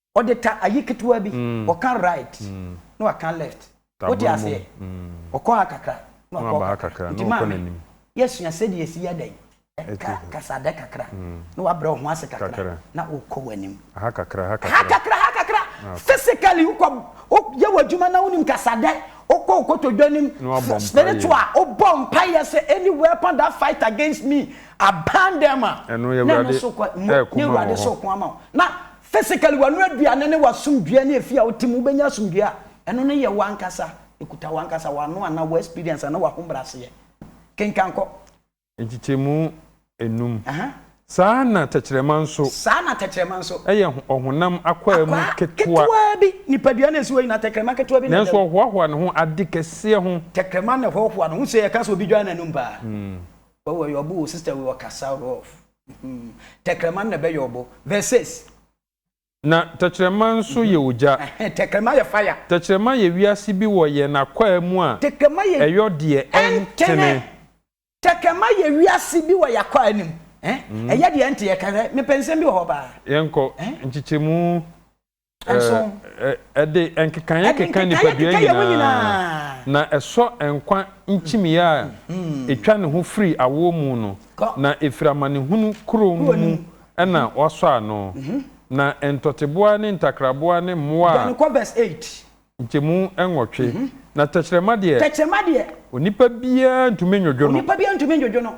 Ɔde ta ayi ketewa bi, ɔka right na waka left. Wote aseɛ? Ɔkɔ ha kakra na wakɔ ha kakra. Nti maame, yɛasua sɛdeɛ yɛsi yɛ dɛn? Ka kasadɛ kakra na wabrɛ wo ho ase kakra na wokɔ w'anim. Ha kakra, ha kakra. Ha kakra, ha kakra. Physically wokɔ, woyɛ w'adwuma na wonim kasadɛ, wokɔ wo kotodwe anim. Spiritual, wobɔ mpaeɛ sɛ any weapon that fight against me, I ban them a, na ɛno nso kɔ, na Awurade sɛ ɔko ama wo. Na Physically, w'ano aduane ne w'asomdwoeɛ ne ɛfie a wote mu, wobɛnya asomdwoeɛ a, ɛno no yɛ w'ankasa, ɛkuta w'ankasa, w'ano anaa wo experience anaa w'ahobrɛaseɛ. Kenkan kɔ. Nkyekyɛmu nnum. Aha. Saa ara na tɛkyerɛma nso. Saa ara na tɛkyerɛma nso. Yɛ ɔhonam akwaa mu ketewa. Akwaa ketewa bi. Nipadua no a ɛsi hɔ nyinaa, tɛkyerɛma ketewa bi na ɛda mu. Nanso ɔhoahoa ne ho ade kɛseɛ ho. Tɛkyerɛma na ɛhoahoa ne ho. Wohu sɛ yɛka sɛ obi dwan n'anom paa? Wawu, ɔyɛ ɔbo, wo sister wei, ɔkasa, rough. Mm. Tɛkrɛma no na ɛbɛyɛ ɔbo. Verse six. Na tɛkyerɛma nso mm-hmm. yɛ ogya. Ɛhɛn, tɛkrɛma yɛ fire. Tɛkyerɛma yɛ wiase bi wɔ yɛn akwaa mu a. Tɛkrɛma yɛ ɛyɔ deɛ ɛntene. Tɛkrɛma yɛ wiase bi wɔ yɛn akwaa no mu. Ɛyɛ deɛ ɛnte yɛ kɛhɛ. Mepɛ nsɛm bi wɔ hɔ paa. Yɛnkɔ nkyekyɛmu. Nso. Ɛde nkekaeɛ keka nipadua nyinaa, na ɛsɔ nkwa nkyimiiɛ a ɛtwa ne ho firi awoɔ mu no, na ɛfiri amanehunu kuro no mu na wɔasɔ ano, na ntɔteboa ne ntakraboa ne mmoa a nkyɛmu nwɔtwe, na tɛkyerɛma deɛ, onipa biara ntumi nnwodwo no.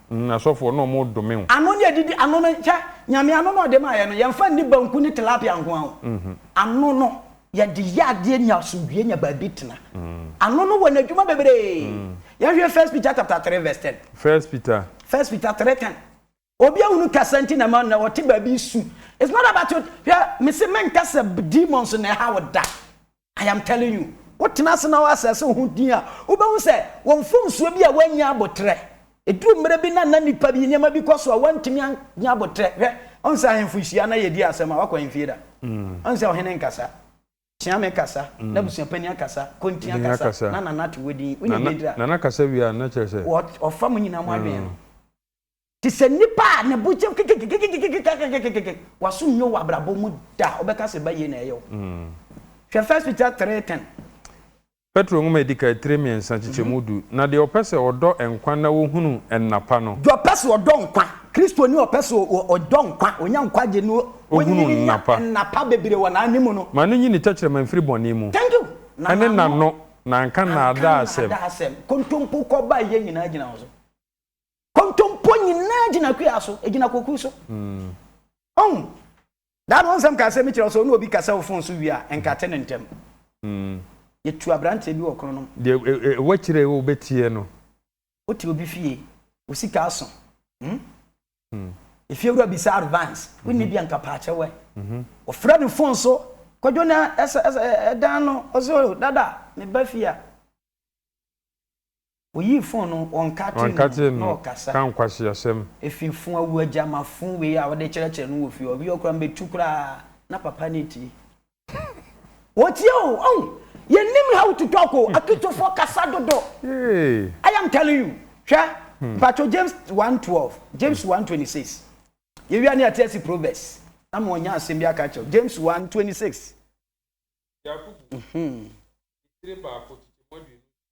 Mm asɔfoɔ na ɔmo dome wo. Ano ne adidi ano no hwɛ Nyame ano na ɔde maayɛ no yɛnfa nni banku ne tilapia nkoa o ano no yɛde yɛ adeɛ nya asomdwie nya baabi tena ano no wɔ nadwuma bebree yɛnhwɛ first Peter chapter three verse ten First Peter. First Peter three ten Obi ahunu kasa nti na ɛma nnɛ ɔte baabi su it's not about your hwɛ mese menkasa demons na ɛha wo da I am telling you, wo tena ase na wo assess wo ho din a, wo bɛhu sɛ wɔ mfomsoɔ bi a woannya aboterɛ. Ɛduru mmerɛ bi na na nnipa bi nneɛma bi kɔ so a woantumi annya aboterɛ. Hwɛ, wohu sɛ ahemfo hyia na yɛdi asɛm a, woakɔ ahemfie da? Wohu sɛ ɔhene nkasa, Kyeame kasa, n'abusua panin akasa, Kontea kasa, na Nana to wo din, wonim deɛ ɛduru a, ɔfa mo nyinaa mo adwene no. Te sɛ nipa a ne bo kyɛm kekekekekekekekekekekekeke, w'aso nnwo wɔ abrabɔ mu da a wobɛka sɛ bayie na ɛyɛ wo. Hwɛ First Peter three ten. Petro Nwoma a Edi Kan tire mmiɛnsa nkyekyɛmu du, Na deɛ ɔpɛ sɛ ɔdɔ nkwa na ɔhunu nna pa no. Deɛ ɔpɛ sɛ ɔdɔ nkwa, Kristoni a ɔpɛ sɛ ɔdɔ nkwa, ɔnya nkwagye na ɔnyini nya nna pa bebree wɔ n'ane mu no. Ma no nyi ne tɛkyerɛma mfiri bɔne mu, ɛne n'ano na anka nnaadaa asɛm. Kontompo kɔ bayie nyinaa gyina wo so. Kontompo nyinaa gyina kua so, egyina koku so. Ɔn. Daado ho nsɛm kaa sɛ mi kyerɛ wo sɛ ɔne obi kasa wɔ fon so wie a, nkate no ntɛm. Yɛtu aberanteɛ bi wɔ Kronom. Deɛ ɛwɔ akyire a wobɛtie no. Wote obi fie, wo sika aso. Efiewura bisa advance, wonni bi a nka paakyɛ wɛ. Wɔfrɛ no fon so, Kwadwo na ɛdan no, ɔse o dada, meba fie a. Oyi fon no wɔ nkate mu Wankate na no ɔkasa. ka nkwaseasɛm. Efi fon awu agyama fon wei a wode kyerɛkyerɛ no wɔ fie hɔ wiɔ koraa mɛtu koraa na papa no atie. Wɔtie o ɔhu yɛnim how to talk o akitofoɔ kasa dodo I am telling you hwɛ mpakyɛw James one twelve James one twenty six yɛwie a na yɛate asi proverbs na ma ɔnya asɛm bi aka akyerɛ wo James one twenty six. Yakubu, titire baako, kyekyɛ mu aduonu nsia.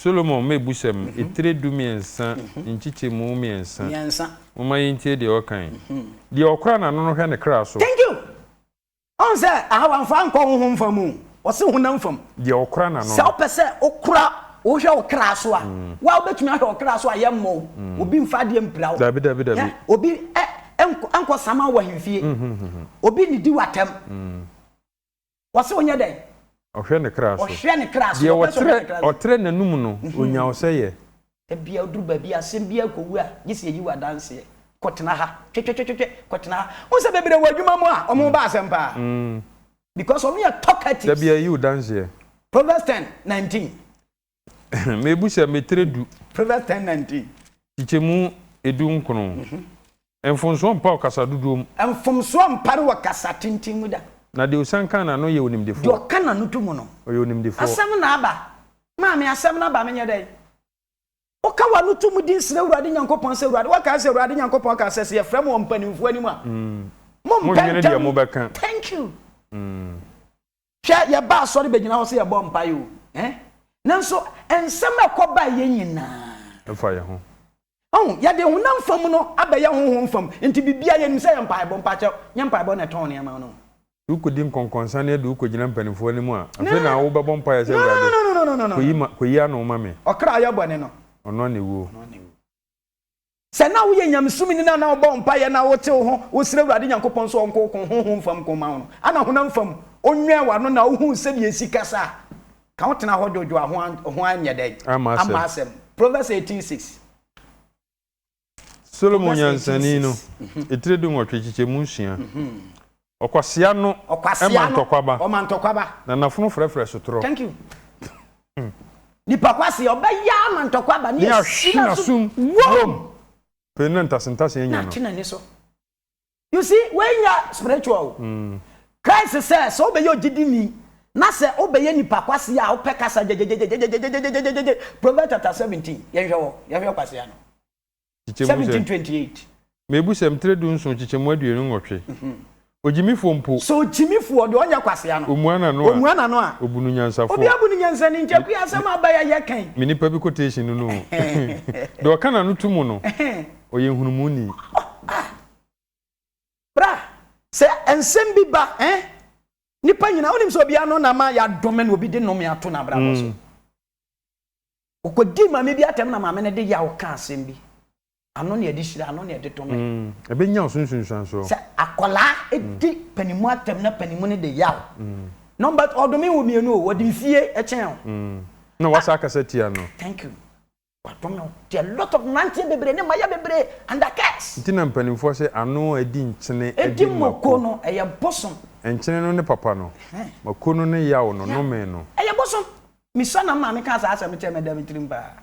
Solomon mmebusɛm, etire dumiɛnsa, nkyekyɛmu mmiɛnsa. Momma yɛntie deɛ ɔkae. Deɛ ɔkora n'ano no hwɛ ne kra so. Thank you! Ɔhu sɛ aha wamfa ankɔ honhom fam o, ɔse honam fam. Deɛ ɔkora n'ano no. Sɛ wopɛ sɛ wokora, wohwɛ wo kra so a, wo a wobɛtumi ahwɛ wo kra so a yɛmmɔ wo, obi mfa adeɛ mpira wo. Dabi, dabi, dabi. Hwɛ, obi ɛ, ɛnkɔ, ɛnkɔ sama wo ahemfie. Obi nnidi w'atɛm. Wɔse ɔnyɛ dɛn? Ɔhwɛ ne kra so. Ɔhwɛ ne kra so. Deɛ Ɔpɛ sɛ ɔhwɛ ne kra so. ɔtrɛ n'anom no, ɔnya ɔsɛeɛ. Ebia woduru baabi a asɛm biara kɔ wu a, gye sɛ yɛyi wo adanseɛ. Kɔtena ha. Twetwetwetwe, kɔtena ha. Wohu sɛ bebree wɔ adwuma mu a, wɔn ba asɛm paa. Because wɔyɛ talkatives. Da biara yi wo danseɛ. Proverbs ten, nineteen. Mebu sɛ meterɛ du. Proverbs ten nineteen. Kyekyɛmu edu nkono. Mfomsoɔ mpa wɔ kasa dodoɔ mu. Mfomsoɔ mpare wɔ kasa tenten mu da. Na deɛ osian ka n'ano yɛ onimdefoɔ. Deɛ ɔka n'ano to mu no. Ɔyɛ onimdefoɔ. Asɛm no aba. Maame, asɛm no aba, menyɛ dɛn? Woka w'ano to mu din srɛ Awurade Nyankopɔn sɛ, Awurade, woakae sɛ Awurade Nyankopɔn kaa sɛ, sɛ yɛfrɛ mo wɔ mpanimfoɔ anim a, mompɛ ntɛm. Thank you. Hwɛ, yɛba asɔre bɛgyina hɔ sɛ yɛbɔ mpaeɛ o, eh, nanso nsɛm a ɛkɔ ba yɛ nyinaa. Mfa yɛn ho. Ɔho, yɛde honam fam no abɛyɛ honhom fam, nti biribiara yɛnim sɛ yɛ mpaebɔ, mpakyɛw, nyɛ mpaebɔ na ɛtɔn nneɛma no. Sɛ wokɔdi nkɔnkɔnsaneɛ de wokɔgyina mpaninfoɔ anim a, afei na wobɛbɔ mpaeɛ sɛ, Awurade, kɔyi ma, kɔyi ano ma me. Ɔkra a ɔyɛ bɔne no. Ɔno na ɛwuo. Ɔno na ɛwuo. Sɛ na woyɛ nyamesom ni na na wobɔ mpaeɛ na wotew ho, wosrɛ Awurade Nyankopɔn sɛ ɔnko ɔko honhom fam ko mma wo no, ana honam fam ɔnwɛn w'ano na wohuu sɛdeɛ ɛsi kasa a, ka wo tena hɔ dwodwo a ho anyɛ dɛn? Amma asɛm. Proverbs eighteen six. Solomon nyansani no etire dunwɔtwe kyekyɛ mu nsia. Ɔkwasea no ma ntɔkwaba. Ɔma ntɔkwaba. Na n'afono frɛfrɛ sotorɔ. Thank you. Nipa kwasea ɔbɛyɛ ama ntɔkwaba ne asi n'asom wom. Pɛ na ntasentase anya no. Na ate n'ani so. You see, wei nyɛ spiritual o. Mm. Christ sɛ sɛ wobɛyɛ ogyidini na sɛ wobɛyɛ nipa kwasea a wopɛ kasa gyegyegye Proverbs chapter seventeen yɛnhwɛ hɔ yɛhwɛ kwasea no. kyekyɛ mu sɛ. 1728. Mebu sɛ mtre du nson kyekyɛ mu aduonu nwɔtwe. Ogyimifoɔ mpo. Sɛ ogyimifoɔ deɛ ɔnyɛ kwasea no. Omua n'ano a. Omua n'ano a. Obunu nyansafoɔ. Obiara bu no nyansani nti akuyi asɛm a aba yi a yɛka yi. Me nipa bi quotation no no o. Deɛ ɔka n'ano to mu no, ɔyɛ nhunumuni. Ah! Bra! Sɛ nsɛm bi ba eh, nipa nyinaa, wonim sɛ obiara ano na ama yɛadome no, obi de nome ato n'abrabɔ so. Mm. Ɔkɔdii maame bi atɛm na maame no de yaw kaa asɛm bi. Ano na yɛde hyira, ano na yɛde dome. Ɛbɛnya wo so nsunsuansoɔ. Sɛ akwadaa di panimu atɛm na panimu no de yaw. Nɔmba two, ɔdome wo mmienu o, ɔde mfie kyɛn wo. Na wasa akasa tia no. Thank you. Wadome wo. Nti a lot of mmeranteɛ bebree ne mmayewa bebree under curse. Nti na mpanimfoɔ se ano a ɛdi nkyene de mako. Ɛdi mako no, ɛyɛ bosom. Nkyene no ne papa no. Mako no ne yaw no, nome no. Ɛyɛ bosom. Misa na maame kaa saa asɛm no kyerɛ me ɛda me tirim paa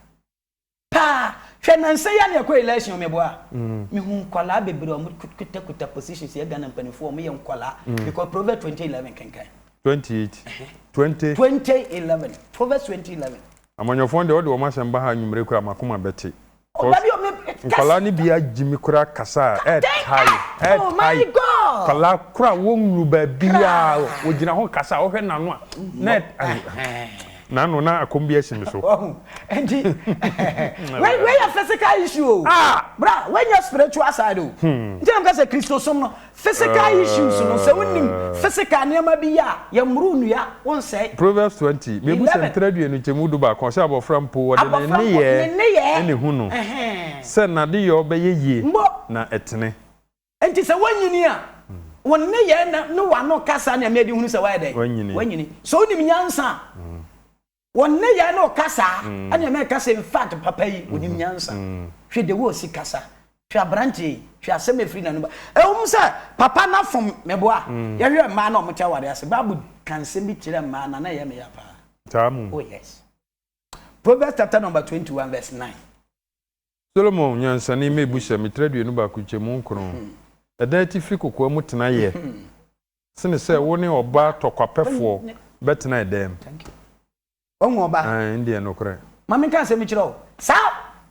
paa hwɛ nansa yi a na yɛkɔ election meboa mehu nkɔlaa bebree ɔmo kutakuta positions yɛ Ghana mpanimfoɔ ɔmo yɛ nkɔlaa mm. because Proverbs 2011 kenkan 28 20 2011 Proverbs 2011 amanyɔfoɔ deɛ ɔde wɔn asɛm ba ha anwummere kura makoma bɛte Cos nkwadaa no bi agye me koraa kasa a ɛɛtae ɛɛtae nkwadaa koro a wɔn nnuru baabiara wɔgyina hɔ kasa a wɔhwɛ n'ano a na ɛɛ. Nano na akɔm bi asi me so. Nti wei wei yɛ physical issue o. Ah! Bra wei nyɛ spiritual side o. Hmm. Nti na mo kasa Kristosom no Physical issues no, sɛ wonim physical nneɛma bi yɛ a, yɛmmoro nnua, wonsɛe. Proverbs twenty, Bebu sɛ Eleven. ntra dua no nkyɛmu du baako, ɔsɛ abɔfra mpo, wɔde ne Abɔfra mpo, ne nneyɛɛ nneyɛɛ. ne hu no, Ɛhɛn. sɛ n'adeyɔ bɛyɛ yie Mbo. na ɛtene. Enti sɛ woanyini a, wo nneyɛɛ na ne w'ano kasa nea mede hunu sɛ woayɛ dɛn? Woanyini. Woanyini. Sɛ wonim nyansa a, Wɔ nneyɛe ne ɔkasa a ɛne ɛma ɛka sɛ infact papa yi onim nyansa. Hwɛ the way osi kasa. Hwɛ aberanteɛ yi. Hwɛ asɛm a ɛfiri n'anom ba. Ɛwom sɛ papa no afom, meboa. Yɛhwɛ mmaa no a wɔte awareɛ ase. Bible ka nsɛm bi kyerɛ mmaa no a, na ɛyɛ me ya paa. Saa mmom. Oh yes. Proverbs chapter number twenty one verse nine. Solomon nyansani mma abu sɛ, Metra aduonu baako nkyɛmu nkron. Ɛdan atifi kokoa mu tena yɛ. Sene sɛ wo ne ɔbaa tɔkwapɛfoɔ bɛtena dan mu. Thank you. Wahu ɔbaa. Ae, ɛno deɛ yɛ nokorɛ. Ma menka asɛm kyerɛ wo. Saa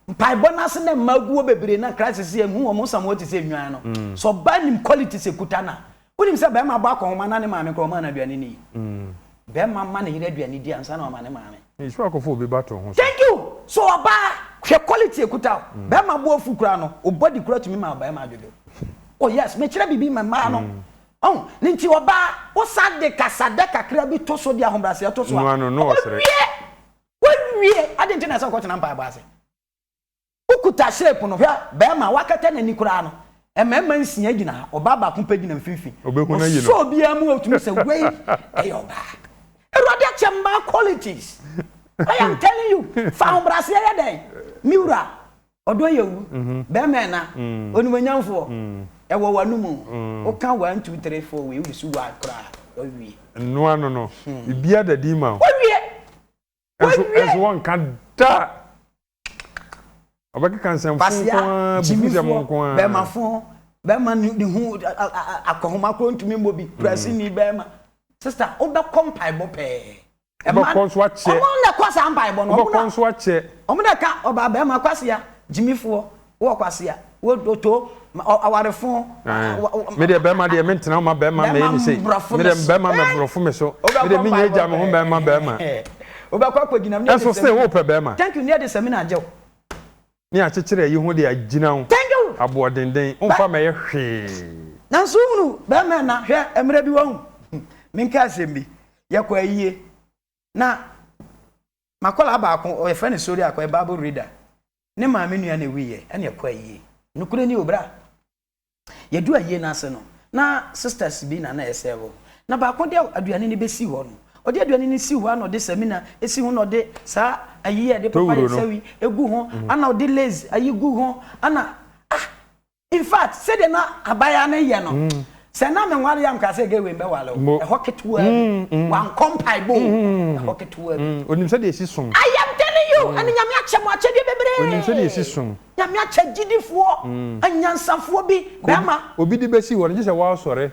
mpaebɔ no ase na mmaa gu hɔ bebree na Christ se yɛnhu wɔn, wɔsam hɔ te sɛ nnwan no. Sɛ ɔbaa nim qualities a ɛkuta no a, wonim sɛ barima abɔ akɔnhoma na ne maame koraa ɔmaa no aduane nni. Barima ma ne yere aduane di ansa na wama ne maame. Nhyira akɔfo obi ba to ho so. Thank you so ɔbaa hwɛ quality ɛkuta wo bɛɛma bo afu koraa no wo body koraa tumi ma bɛɛma adwodwo oh yes mekyerɛ biribi ma mmaa no ɔho ne nti ɔbaa wo san de kasadɛ kakra bi to so de ahobraseɛ to so a ɔbɛwie wawie ade nti na ɛsɛ ɔkɔ tena mpaebɔ ase Wokuta shape no, hwɛ barima a wakata n'ani koraa no, mmarima nsia gyina ha, ɔbaa baako pɛ gyina mfimfini. Obehu no ayi no. Ɔsɔ obiara mu a otumi sɛ wei yɛ ɔbaa. Awurade akyɛ mmaa qualities. I am telling you, fa ahobrɛaseɛ yɛ dɛn? Me wura, ɔdɔ yɛ wu, barima ɛna, onimuonyamfoɔ, ɛwɔ w'anom o, woka one, two, three, four wei, wosu one koraa a, wawie. Nnoa no no, biribiara da din ma wo. Wawie! Nso wɔnka da a ɔbɛkeka nsɛmfo nko ara, abubusɛm nko ara. Bɛɛmafo, bɛɛma ne ho akɔhoma koro ntumi mmɔ bi, Brasini bɛɛma. Sista, wobɛkɔ mpaebɔ pɛɛ. Wobɛkɔ nso akyɛ. Wɔn na ɛkɔ saa mpaebɔ no. Wobɛkɔ nso akyɛ. Wɔn na ɛka ɔbaa bɛɛma kwasia, gyimifoɔ. Wɔ kwase a, wɔ to ma awarefo. Me deɛ bɛrima deɛ me ntena ma bɛrima mɛyɛ ne sei. Me deɛ bɛrima mɛ borɔfo me so. Me deɛ me nyɛ gya me ho bɛrima bɛrima. Wobɛkɔ akɔgyina me ne ɛde sɛ. Ɛso se wopɛ bɛrima. Thank you ne ɛde sɛ me na agye wo. Ne akyekyere ayi ho de agyina wo. Thank you. Aboɔdenden womfa mɛyɛ hwee. Nanso wohunu bɛrima ɛna hwɛ mmerɛ bi wahu. Menka asɛm bi yɛkɔ ayie na makɔla baako ɔyɛfrɛ ne sori akɔ yɛ bible reader Ne maame nua na ewui yɛ ɛna ɛkɔ ayie. Nokore ni o bra. Yɛduru ayie no ase no na sisters bi na na ɛsɛɛvo. Na baako de aduane no bɛsi hɔ no ɔde aduane no si hɔ ana ɔde samina si ho na ɔde saa ayi a yɛde pepa yɛn nsa yi gu ho ana ɔde lace ayi gu ho ana ah In fact, sɛdeɛ na abaayewa no yɛ no, sɛ na menware a, mekaa sɛ, Gay wei mɛware o. Mbo. Ɛhɔ ketewaa bi. Mm-mm. Wankɔ mpaebɔ o. Mm-mm. Ɛhɔ ketewaa bi. Mm, onim sɛdeɛ ɛsi som. I am telling you, ɛne Nyame akyɛ mo akyɛdeɛ bebree. Onim sɛdeɛ ɛsi som. Nyame akyɛ gyidifoɔ, anyansafoɔ bi, Obi, bɛɛma. obi de bɛsi hɔ no, gye sɛ woasɔre.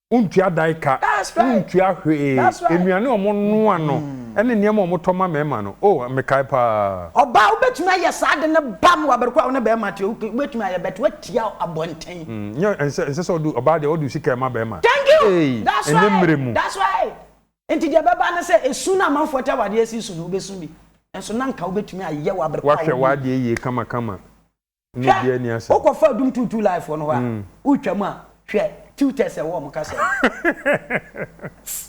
Wontua dae ka, wontua hwee. Nnuane a wɔnoa no ne nneɛma a wɔtɔ ma mmarima no, oh, mekae paa. Ɔbaa, wubetumi ayɛ saa ade no bam wɔ bere koro a wo ne barima te. Okay, wubetumi ayɛ but woatia abɔnten. Nyɛ, ɛnsɛ, ɛnsɛ sɛ ɔde, ɔbaa deɛ, ɔde wo sika ma barima. Thank you! Hey, That's ɛnyɛ mmerɛ right! mu. That's right! Enti deɛ ɛbɛba ne sɛ, esu no a amanfoɔ te awadeɛ asi so no, wubesu bi. Nanso na anka wubetumi ayɛ wɔ bere koro a wo ne. Woahwɛ w'adeɛ yie kamakama. Hwɛ, wokɔ fa dum tuutuu live foɔ no hɔ a, wotwa mu a, hwɛ, tutors a ɛwɔ wɔn kasa mu.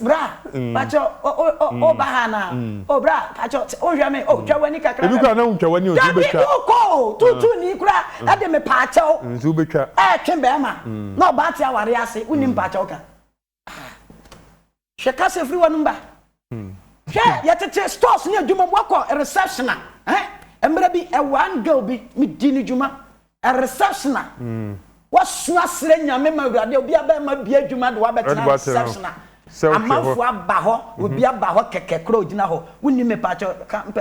Bra, pakyɛ, o ba ha na, o bra, pakyɛ, o hwɛ me, o twa wani kakra. Ebi kura na wotwa wani o nso bɛ twa. Dabi okɔ o, tuutuu ni kura, ɛde me pakyɛ o. Nso bɛ twa. Ɛɛtwe bɛɛma, na ɔbaa te awari ase, wuni mpakyɛ o ka. hwɛ kasa firi wɔn mba hwɛ yɛtete stores ne adwuma mu wakɔ reception a eh, mmerɛ bi one girl bi medi ne dwuma reception a hmm. wasua serɛ nyame ma awurade obi abɛma bia adwuma de wabɛtena reception a amanfo aba hɔ mhm. obi aba hɔ kɛkɛ korɔ ogyina hɔ wonni me pakyɛ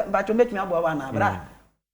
mpakyɛ mɛtumi aboa wo anaa berɛ a hmm.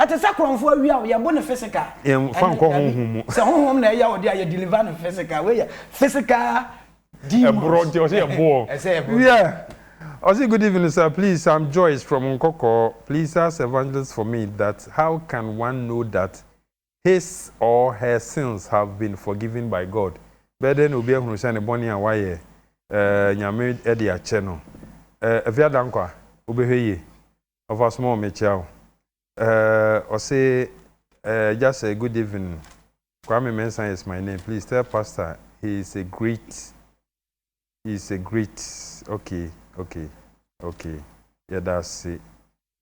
Ɛte sɛ korɔnfo awia o, yɛbo no physical. Yɛnfa ɛne nkɔ dabi, honhom mu. sɛ honhom na ɛya ɔde a yɛ deliver no physical, wei yɛ physical demons. Ɛborɔ nti ɔsɛ yɛboɔ. Ɛsɛ yɛbo no. Yeah. Ɔse good evening sir please I'm Joyce from Nkɔkɔɔ please ask evangelist for me that how can one know that his or her sins have been forgiven by God bɛyɛ dɛn na obi ahunu sɛ ne bɔne a wayɛ eh, Nyame de akyɛ no eh, Afia Dankwa wobɛhwɛ yie Ɔfa so ma wo mekyea wo. Eh, ɔse eh, agya sɛ good evening, Kwame Mensah is my name, please tell pastor he is a great, he is a great, ok, ok, ok, yɛda ase.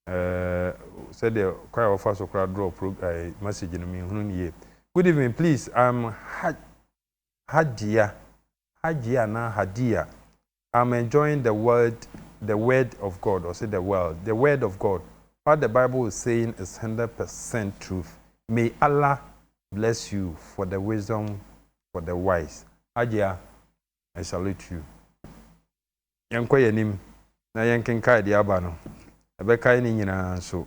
Eh, sɛdeɛ kwan a wɔfa so koraa draw pro eh, message no menhunu no yie. Good evening, please, I'm ha. Hajia, Hajia anaa Hadiya, I'm enjoying the word, the word of God, ɔse the world, the word of God, what the bible is saying is hundred percent truth, may Allah bless you for the wisdom for the wise, Hajia I salute you. Yɛnkɔ yɛn anim na yɛnkenkae deɛ aba no, ɛbɛkae ne nyinaa nso.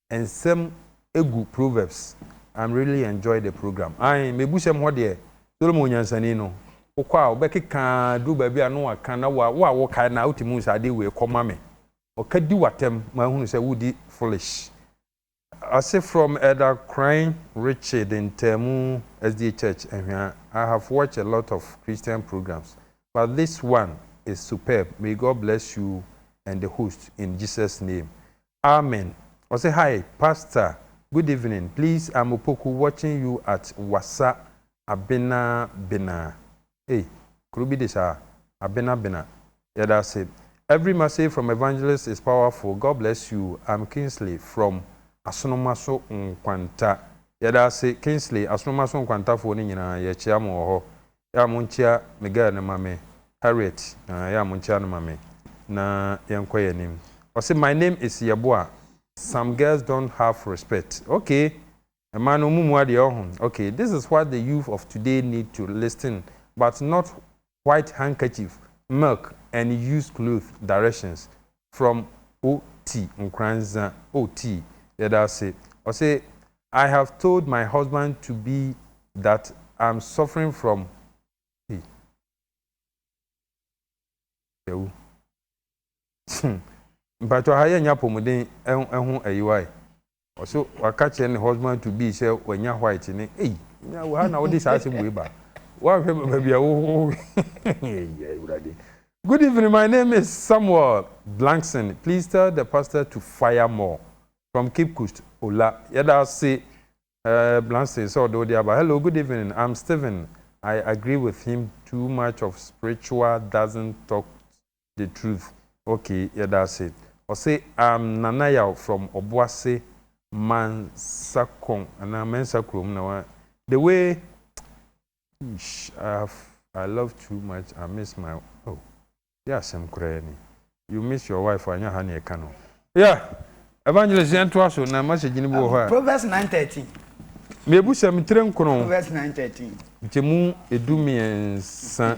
nsɛm gu proverbs I'm really enjoy the program ae mebu sɛm hɔ deɛ Solomon nyansani no wokɔ a wobɛkeka duru baabi a na waka na wa wo a wokae na wotumi hu sɛ ade wei kɔ ma me ɔka di w'atɛm mahunu sɛ wodi foolish ase from Elder Kran Richard Ntamu SDA Church Ahwea I have watched a lot of Christian programs but this one is superb may God bless you and the host in Jesus name Amen ɔse hi pastor good evening please I'm opoku watching you at wasa abena bena ei kuro bi de saa abena bena yɛda ase every message from evangelist is powerful God bless you I'm Kingsley from asonomaso nkwanta yɛda ase Kingsley asonomaso nkwantafoɔ no nyinaa yɛkyea mo wɔ hɔ Yɛ a monkyea me girl no ma me, Harriet aah yɛ a monkyea no ma me na yɛnkɔ yɛn anim. Ɔse my name is Yeboah, some girls don't have respect okay mmaa no ɔmo mua deɛ ɔho okay this is what the youth of today need to listen but not white handkerchief, milk and used cloth directions From O T Nkurandza O T yɛda ase ɔse I have told my husband to be that I'm suffering from Hey Yawu hmm mpakyɛw ha yɛnnyɛ apɔmuden ho ayiwa e Ɔso waka kyerɛ ne husband to be sɛ wanya white ne ei nya wɔ ha na wode saa asɛm wei ba woanhwɛ baabi a wo ei awurade Good evening my name is Samuel Blankson please tell the pastor to fire more from Cape Coast Ola yɛda ase eh, Blankson sɛ ɔde wode aba hello good evening I'm Stephen I agree with him too much of spiritual doesn't talk the truth ok yɛda ase. Ɔse I'm Nana Yaw from Obuase Mansakon anaa Mensa kurom na wa the way eish ahh I love too much I miss my oh yɛ asɛm koraa ni you miss your wife anyɛ ha na ɛka no yeah Evangelist yɛn toa so na message no bi wɔ hɔ a Proverbs nine thirteen mebu sɛ me tire nkron Proverbs nine thirteen nkyɛmu edu mmiɛnsa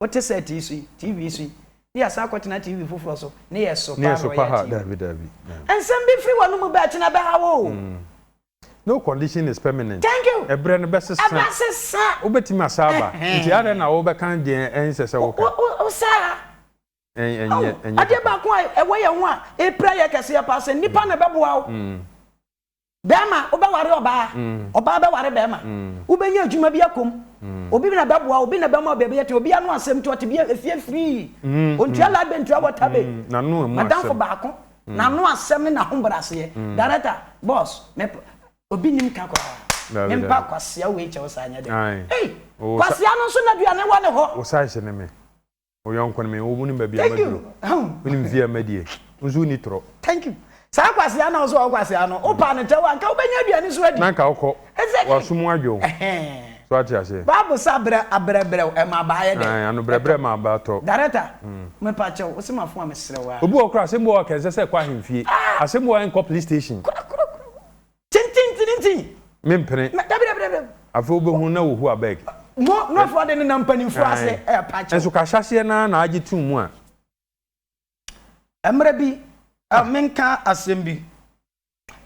Wote sɛt yi so yi, TV yi so yi, ne yɛasan akɔtena TV foforɔ so, ne yɛ so paa na ɔyɛ TV. Daabi, daabi. Nsɛm bi firi w'anomu bɛte na ɛbɛha wo o. No condition is permanent. Thank you. Ɛberɛ no bɛsesa. Ɛbɛsesa. Wobɛtumi asan aba. Nti adɛn na wobɛka deɛ ɛnsɛ sɛ woka? Wosaa. Ɛn, ɛnyɛ, ɛnyɛ. Adeɛ baako a ɛwɔ yɛn ho a epira yɛ kɛseɛ paa sɛ nnipa na ɛbɛboa wo. Bɛɛma, wobɛware ɔbaa, ɔbaa bɛware bɛɛma, wobɛnya adwuma bi akɔ mu, obi na bɛboa wo, obi na bɛma wo baabi yɛte, obi ano asɛm nti ɔte bia efie firii, ɔntua light bill ntua water bill, madamfo baako, n'ano asɛm ne n'ahobrɛaseɛ, director, boss, me p, obi nim ka koraa, me mpa kwasea wei kyɛ wo saa nyɛ dɛ, ei, kwasea no nso n'aduane wɔ ne hɔ. Wo size ne me. Wo yɔnko no me wo wonim baabi a maduro wonim fie a madie wo nso wonni torɔ. Thank you. Saa kwasea na ɔso a ɔkwasea no wo paa ne tɛw a nka wobɛnya aduane so adi. Na nka wokɔ. Exactly. Waso mu adwo wo. Ɛhɛn. So ate aseɛ. Bible sɛ abrɛ abrɛ brɛ wo ɛma aba ayɛ dɛn? Ae ano brɛ brɛ ma aba tɔ. Dareta, mepa kyɛw, wo se ma fon a mesrɛ wo aa. Obi wɔ hɔ koraa asɛm bi wɔ hɔ a nka ɛnsɛ sɛ ɛkɔ ahemfie. Asɛm bi wɔ hɔ a ɛnkɔ police station. Kura kura kura. Tintintintintin! Mempene. Na dabi dabi dabi dabi. Afei wobɛhunu na wɔhu abeg. Mo nkurɔfoɔ de nenam mpanimfoɔ ase ɛyɛ paakyɛw. Nso ka ahyɛaseɛ no ara na agye tom mu a. Mmerɛ bi, ah, menka asɛm bi.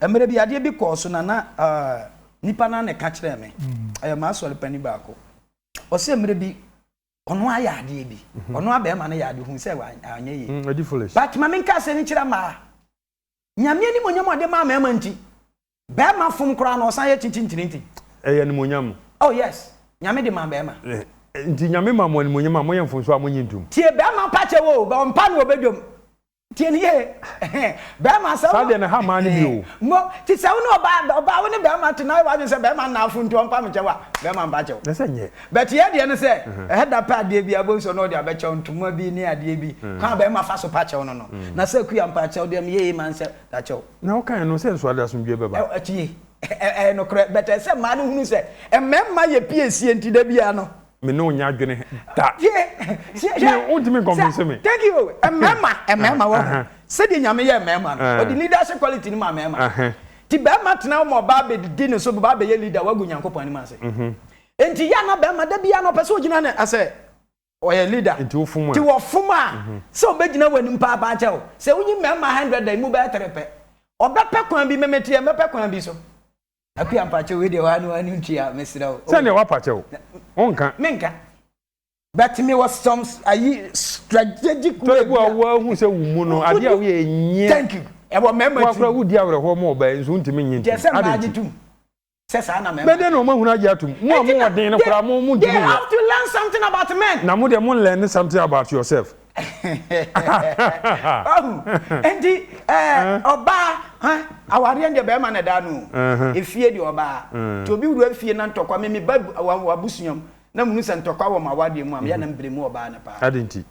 Mmerɛ bi adeɛ bi kɔɔ so na na ah, nipa no na ɛka kyerɛɛ me. Ɛyɛ m'asɔre panin baako. Ɔsɛ mmerɛ bi ɔno ayɛ adeɛ bi. Ɔno abɛɛma no yɛ adeɛ hu sɛ anyɛ yie. Ɛdi foolish. But ma menka asɛm yi nkyerɛ mmaa. Nyame animonyam a ɔde maa mɛɛma nti, bɛɛma fom koraa no ɔsan yɛ tintintirinti. Ɛyɛ animonyam. Oh yes, Nyame de maa bɛɛma. Eh, eh, nti Nyame ma mo animonyam a moyɛ mfonso a monye ntom. Tie bɛɛma mpakyɛ wo, bɛ ɔmpa no ɔbɛ dwom. Tie ne yie, bɛɛma sɛ wo. Saa deɛ na ha maa ne bi o. Mo, ti sɛ wo ne ɔbaa, ɔbaa wo ne bɛɛma to na ayɛ w'adwene sɛ bɛɛma nna afuntu ɔmpa me kyɛw a, bɛɛma mpakyɛ wo. Na sɛ nyɛ. But yɛ deɛ ne sɛ ɛhɛ da pɛ adeɛ biaa bohu sɛ ɔno ɔde abɛkyɛw ntoma bi ne adeɛ bi kwan a bɛɛma fa so pa kyɛw no no na sɛ akua mpakyɛw deɛ meyɛ yei man sɛ da kyɛw Na wokaeɛ no sɛ nso ade asomdwoeɛ bɛba. Ɛ tie ɛyɛ nokorɛ but ɛsɛ mmaa no hunu sɛ mmɛɛma yɛ piesie nti da biaa no. Me ne wo nyɛ adwene da. Tie tie hwɛ Me wontumi nconvince sɛ me. thank you mmɛɛma mmɛɛma wahu Aha. sɛdeɛ nyame yɛɛ mmɛɛma no Ɛɛ. ɔde leadership quality no maa mmɛɛma Aha. nti bɛɛma tena hɔ ma ɔbaa bɛdidi ne so bɛbaa bɛyɛ leader wagu Nyankopɔn anim ase. Nti yɛ na bɛrima da biara na ɔpɛ sɛ ɔgyina ne asɛ ɔyɛ leader nti wɔfom a sɛ ɔbɛgyina w'anim paapaa kyɛ wo sɛ wonyi mmarima hundred a ɛmu bɛyɛ tere pɛ ɔbɛpɛ kwan bi meme teɛ mɛpɛ kwan bi so Akua mpakyɛ wei deɛ ɔha ne ɔha ne ntua mesrɛ wo sɛdeɛ wapakyɛ wo wonka menka but me wɔ some ayi strategic way bi a woahu sɛ wo mu no adeɛ a woyɛ ɛnyɛ thank you ɛwɔ mmarima ti wakora wodi awerɛhoɔ ma ɔbaa nso wontumi nye nti adenti Sɛ saa na mmarima. Bɛdɛn na wɔn ahunu agye atom? Mo a mo wɔ den no koraa mo mo ntumi nyɛ. They have to learn something about men. Na mo deɛ mo learn something about yourself. Wahu? Enti ɛɛ ɔbaa hɛ awareɛ deɛ bɛrima na ɛda ano o. Efie deɛ ɔbaa. Nti obi wura fie na ntɔkwa me me ba wɔ abusua mu na me hu sɛ ntɔkwa wɔ mo awareɛ mu a me yɛ na me blame ɔbaa no paa. Adɛn nti?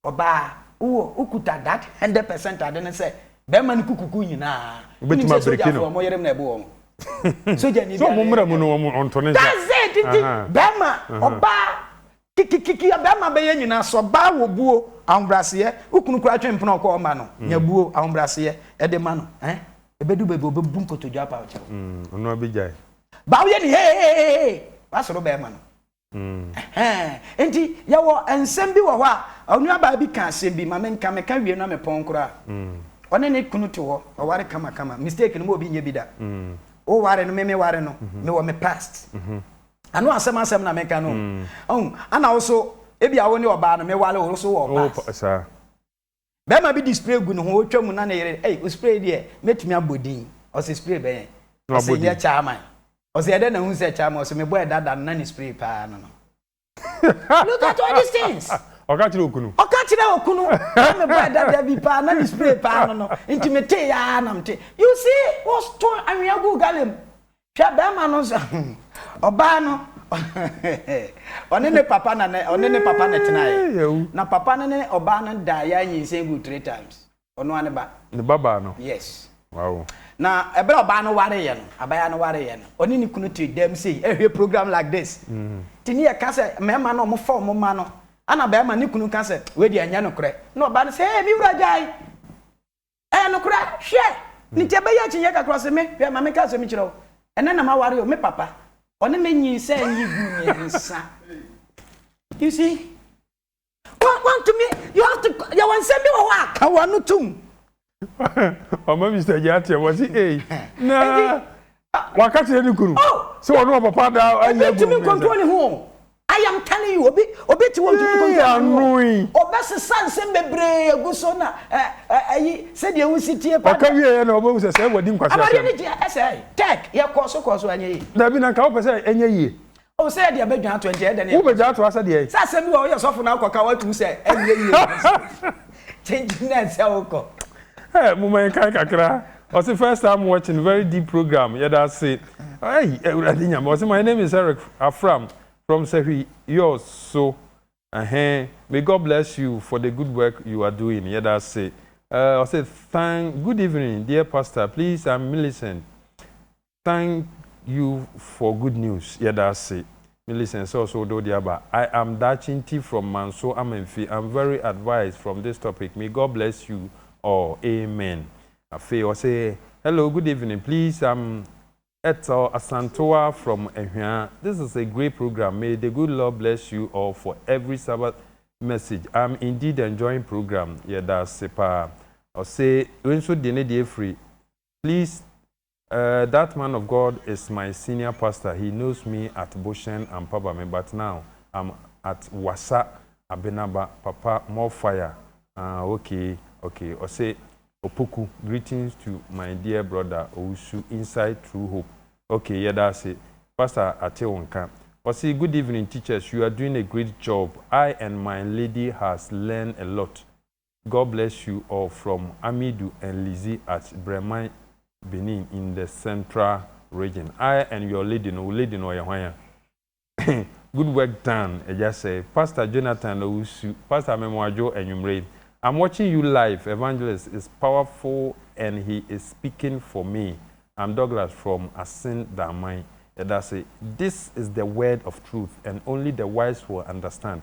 Ɔbaa, wowɔ, wokuta that hundred percent ade no sɛ bɛɛma no kukuku nyinaa. Wonim sɛ sogyafoɔ ɔmo yerem na ɛbo wɔn. Sogyani biara. Sɛ ɔmo mmra mu no ɔmo ɔnto ne nsa. That's it nti bɛɛma, ɔbaa, kikikiki a bɛɛma bɛyɛ nyinaa sɛ ɔbaa wɔ buo, ahobraseɛ, wo kunu koraa twe mpena ɔkɔ ɔma no, nya buo, ahobraseɛ, ɛde ma no eh, ɛbɛdu baabi ɔbɛbu nkotodwe apaakyɛw. Ɔno abɛgyae. Baa woyɛ no heeheeheehehe, wasoro bɛɛma no. Ɛhɛɛ, enti yɛwɔ nsɛm bi wɔ hɔ a, onuabaa bi ka asɛm bi, ma menka, meka wie na mepɔn koraa. Ɔne ne kunu te hɔ, ɔware kamakama, mistake no ma obi nyɛ bi da. Wo ware no, me me ware no, mewɔ me past. Ano asɛm asɛm na meka no o. Woahu? Ɛna wo so, ebia wo ne ɔbaa no, meware wo, wo so wowɔ past. Bɛɛma bi de spray gu ne ho ɔtwa mu na ne yere ei wo spray deɛ mɛtumi abɔ din ɔse spray bɛn ɔse nyɛ chairman ɔse ɛdɛn na wohu sɛ chairman ɔse mebɔɛ dada no na ne spray paa no no look at all these things ɔka kyerɛ okunu ɔka kyerɛ okunu na mebɔɛ dada bi paa na ne spray paa no no nti metee aa na mete you see wo to anwea guu galley mu Hwɛ bɛɛma no nso hmm ɔbaa no ɔne ne papa na ne ɔne ne papa na tenaeɛ na papa no ne ɔbaa no da yɛ anyinsɛn gu three times ɔno ane ba ne ba baa no yes wow na ɛberɛ ɔbaa no wareeɛ no abaya no wareeɛ no ɔne ne kunu te dɛm sei ɛhwɛ program like this mm. ti ne yɛka sɛ mmarima no ɔmo fa ɔmo ma no ana bɛrima ne kunu ka sɛ wei deɛ ɛnyɛ nokorɛ na ɔbaa no sɛ ee me wura gyae Ɛyɛ nokorɛ? Hwɛ! Ne nti ɛbɛyɛ akyinnyeɛ kakra, ɔse me, hwɛ, ma menka asɛm bi nkyerɛ wo, ɛnnɛ na maware o, me papa, ɔne me nyinsɛn yi gu mmiɛnsa. You see? Wa, wantumi, you have to, yɛwɔ nsɛm bi wɔ hɔ a, ka w'ano tom. Ɔma Mister Gyaateɛ, ɔse ei, na. Waka kyerɛ ne kunu Oh! sɛ ɔne ɔpapa ada ayi Obi agu ntumi mmiɛnsa. nkontrol ne ho o. I am telling you, obi obi te hɔ ɔntumi Yee, nkontrol ne ho o. ano yi. Ɔbɛsesa nsɛm bebree agu so na ɛ ɛ ayi sɛdeɛ wosi tie pa Ɔka deɛ. wieeɛ na ɔbɛhu sɛ sɛ wadi Awadeɛ nkwaseasɛm. no gye ɛsɛe. Tech, yɛkɔɔ so kɔɔ so anyɛ yie. Dabi, na nka wopɛ sɛ ɛnyɛ yie. O sɛ yɛde abɛdwa atoa nti ɛyɛ dɛ ne yɛkɔ so. Wobɛdwa atoa sɛ deɛn? Sɛ asɛm bi wɔ woyɛ sɔfo na wokɔka woatu mu sɛ ɛnyɛ yie nkɔ so. Kyenkyen na ɛsɛ wokɔ. Hey moma yɛnkae kakra ɔse first time watching very deep program yɛda ase hey awurade nyame ɔse my name is Eric Afram from Sahwi yours so ɛhɛn may God bless you for the good work you are doing yɛda ase eh, ɔse thank good evening dear pastor please I'm Millicent Thank you for good news yɛda ase Millicent sɛ ɔso wode wode aba I am Daakye Nti from Manso Amanfi am very advised from this topic may God bless you all amen Afei ɔse hello good evening please am Ethel Asantewaa from Ahwia this is a great program may the good Lord bless you all for every Sabbath message am indeed enjoying program yɛda ase paa ɔse wei nso de ne deɛ firi please Eh that man of God is my senior pastor he knows me at Boshen Ampabame but now I'm at Wassa Abenaba papa more fire aah okay okay ɔse Opoku greetings to my dear brother Owusu inside true hope okay yɛda ase pastor ate wo nka ɔse good evening teachers you are doing a great job I and my lady has learn a lot God bless you all from Amidu and Lizzie at Breman Benin in the central region I and your lady no wo lady no ɔyɛ hwan a good work done agya sɛɛ pastor Jonathan na ɔresu pastor Amemoadwo anwummerɛ yi I'm watching you live evangelist is powerful and he is speaking for me I'm Douglas from Asin Daman yɛda ase this is the word of truth and only the wise will understand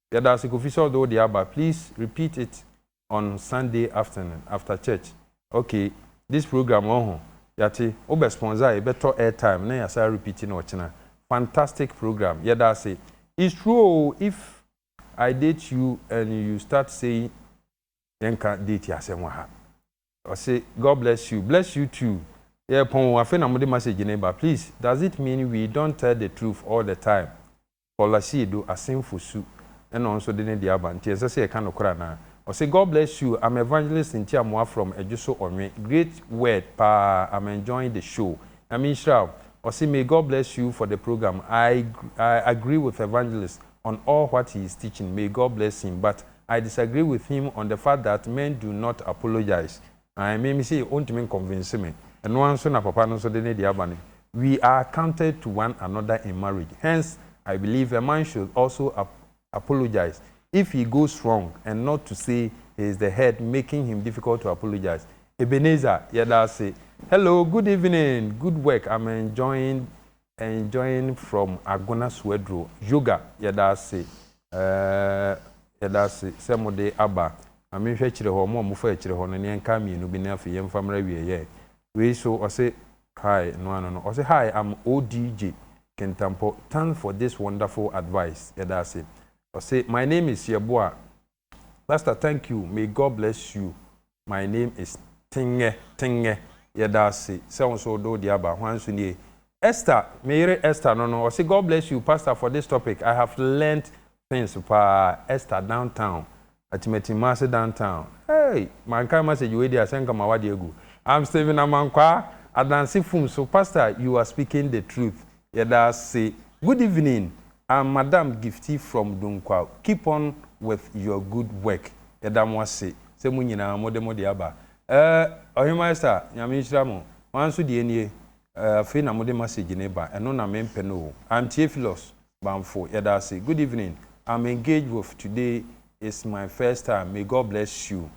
Yɛda ase Kofi sɛ wode wo deɛ aba please repeat it on Sunday afternoon after church ok this program ɔho yɛate wobɛ sponsor a yɛbɛtɔ airtime na yɛasan repeat no ɔkyena fantastic program yɛda ase It's true oo if I date you and you start saying yɛnka date asɛm wɔ ha ɔse God bless you bless you too yɛrepɔn oo afei na mode message no reba please does it mean we don't tell the truth all the time Olasido Asenfo su na ɔno nso de ne deɛ aba nti ɛnsɛ sɛ yɛka nokorɛ anaa? Ɔse God bless you I'm evangelist Ntiamoa from Adwoso Onwe great word paa I'm enjoying the show Nyame nhyira wo Ɔse may God bless you for the program I I agree with evangelist on all what he is teaching may God bless him but I disagree with him on the fact that men do not apologise Ae me mese ontumi nconvince me ɛno ara nso na papa no nso de ne deɛ aba no we are counted to one another in marriage hence I believe a man should also apologise if he goes wrong and not to say he is the head making him difficult to apologise Ebenezer yɛda ase Hello good evening good work I'm enjoying Enjoying from Agona Suaduro Yoga Yɛda ase eh Yɛda ase sɛ mode aba Ma menhwɛ akyire hɔ Mo a mofa akyire hɔ no Nea nkaa mmienu bi no afei yɛmfa mmra awieɛ Wei nso ɔse hi no ano no Ɔse hi am ODJ Kintampo Thanks for this wonderful advice Yɛda ase Ɔse my name is Yeboah Pastor thank you may God bless you my name is Tengɛ Tengɛ yɛda ase sɛ wo nso wode wo deɛ aba hwan nso nie Esther me yere Esther no no ɔse God bless you pastor for this topic I have learnt things paa Esther down town Atimatimma ase down town hey mankan message wei deɛ a sɛ nka mawade agu I'm Stephen Amankwaa adanse fum so pastor you are speaking the truth Yɛda ase. Good evening I'm madam Gifty from Dunkwa keep on with your good work yɛda mo ase sɛ mo nyinaa mo de mo de aba eh Ɔhemaa Esther Nyame nhyira mo mo ara nso deɛ nie eh afei na mo de message no reba ɛno na me mpɛ no o I'm Theophilus Banfo yɛda ase Good evening I'm engaged with today is my first time may God bless you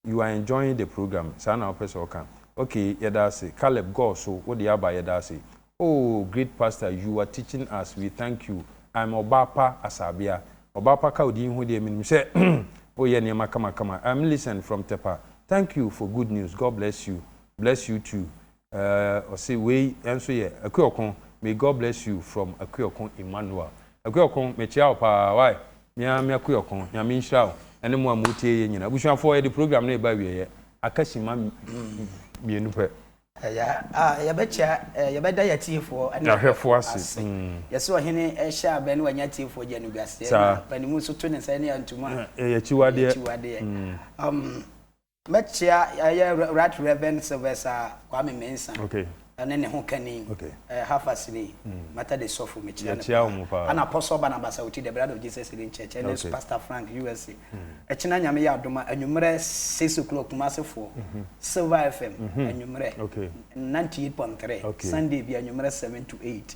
you are enjoying the programme saa na wopɛ sɛ ɔka ok yɛda ase Caleb gɔɔ so wo deɛ aba yɛda ase oh great pastor you are teaching us we thank you I'm Ɔbaapa Asaabea Ɔbaapa ka wo din ho deɛ menim sɛ wo yɛ nneɛma kama kama I'm Millicent from Tepa thank you for good news God bless you bless you too Ɔse wei nso yɛ Akuoko may God bless you from Akuoko Emmanuel Akuoko mekyea wo paa wai me ara me Akuoko Nyame nhyira wo ɛne mo a mo tie yɛ nyina Abusuafoɔ yɛde program no reba awieɛ aka simma mmienu pɛ Ɛyɛ a yɛbɛkyea yɛbɛda yɛ atiefoɔ ne ahwɛfoɔ ase Yɛse Ɔhene hyɛ abɛ na wanya atiefoɔ gye animguaseɛ na panimu nso to ne nsa ne antum a ɛyɛ akyiwadeɛ Mɛkyea yɛ Right Reverend Sylvester Kwame Mensah Okay. ɛne ne ho kani Okay. ɛɛ Hafasiri Matter Day Sɔfo mekyea no Yɛkyea wɔn paa. ɛna Apostle Barnabas Awuti The Blood of Jesus Healing Church ɛne Okay. Pastor Frank USA ɛkyena Nyame yɛ adom a anwummerɛ six o'clock Kumasi foɔ Silver FM anwummerɛ Okay. ninety eight point three Okay. Sunday bi anwummerɛ seven to eight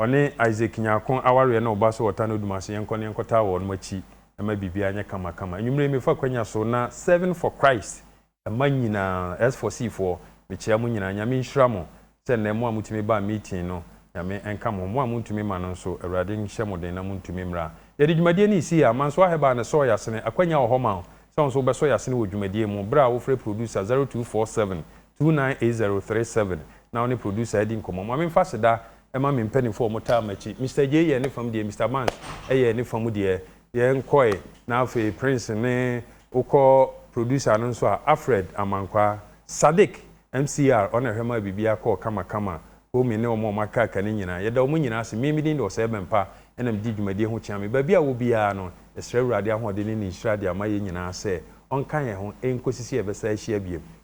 Ɔne Isaac Nyarko awareɛ na ɔba so ɔtaa no dum ase yɛnkɔ na yɛnkɔtaa wɔnom akyi ɛma biribiara nyɛ kama kama. Anwummerɛ yi mefa akwanya so na Serving for Christ mma nyinaa, S for C foɔ, mekyea mo nyinaa. Nyame nhyira mo sɛ nnɛ mo a motumi baa meeting no Nyame nka mo ho. Mo a montumi ma no nso Awurade nhyɛ mo den na montumi mmra. Yɛde dwumadie no resi yɛ a Mansoir Herbal na ɛsɔɔ yɛn asene. Akwanya wɔ hɔ ma wo sɛ wo nso wobɛsɔ yɛn asene wɔ dwumadie mu berɛ a wofrɛ producer 0247 two nine eight zero three seven na wo ne producer adi nkɔmmɔ. Ma memfa aseda mma me mpanimfoɔ a wɔtaa m'akyi. Mister Jay yɛɛ ne fam deɛ, Mister Banks yɛɛ ne fa mu deɛ. Yɛn kɔe, na afei Prince ne wokɔ producer no nso a, Alfred Amankwaa, Sadiq, MCR, ɔno na ɛhwɛ maa biribiara kɔɔ kamakama, Homie ne wɔn a wɔaka aka no nyinaa. Yɛda wɔn nyinaa ase. Me, me din de Ɔsɛe Bɛmpa, ɛna medi dwumadie ho kyeame. Baabi a wɔ biara no, yɛsrɛ Awurade ahoɔden ne ne nhyira de ama yɛn nyinaa sɛ ɔnka yɛn ho nkɔsi sɛ yɛbɛsan ahyia bio.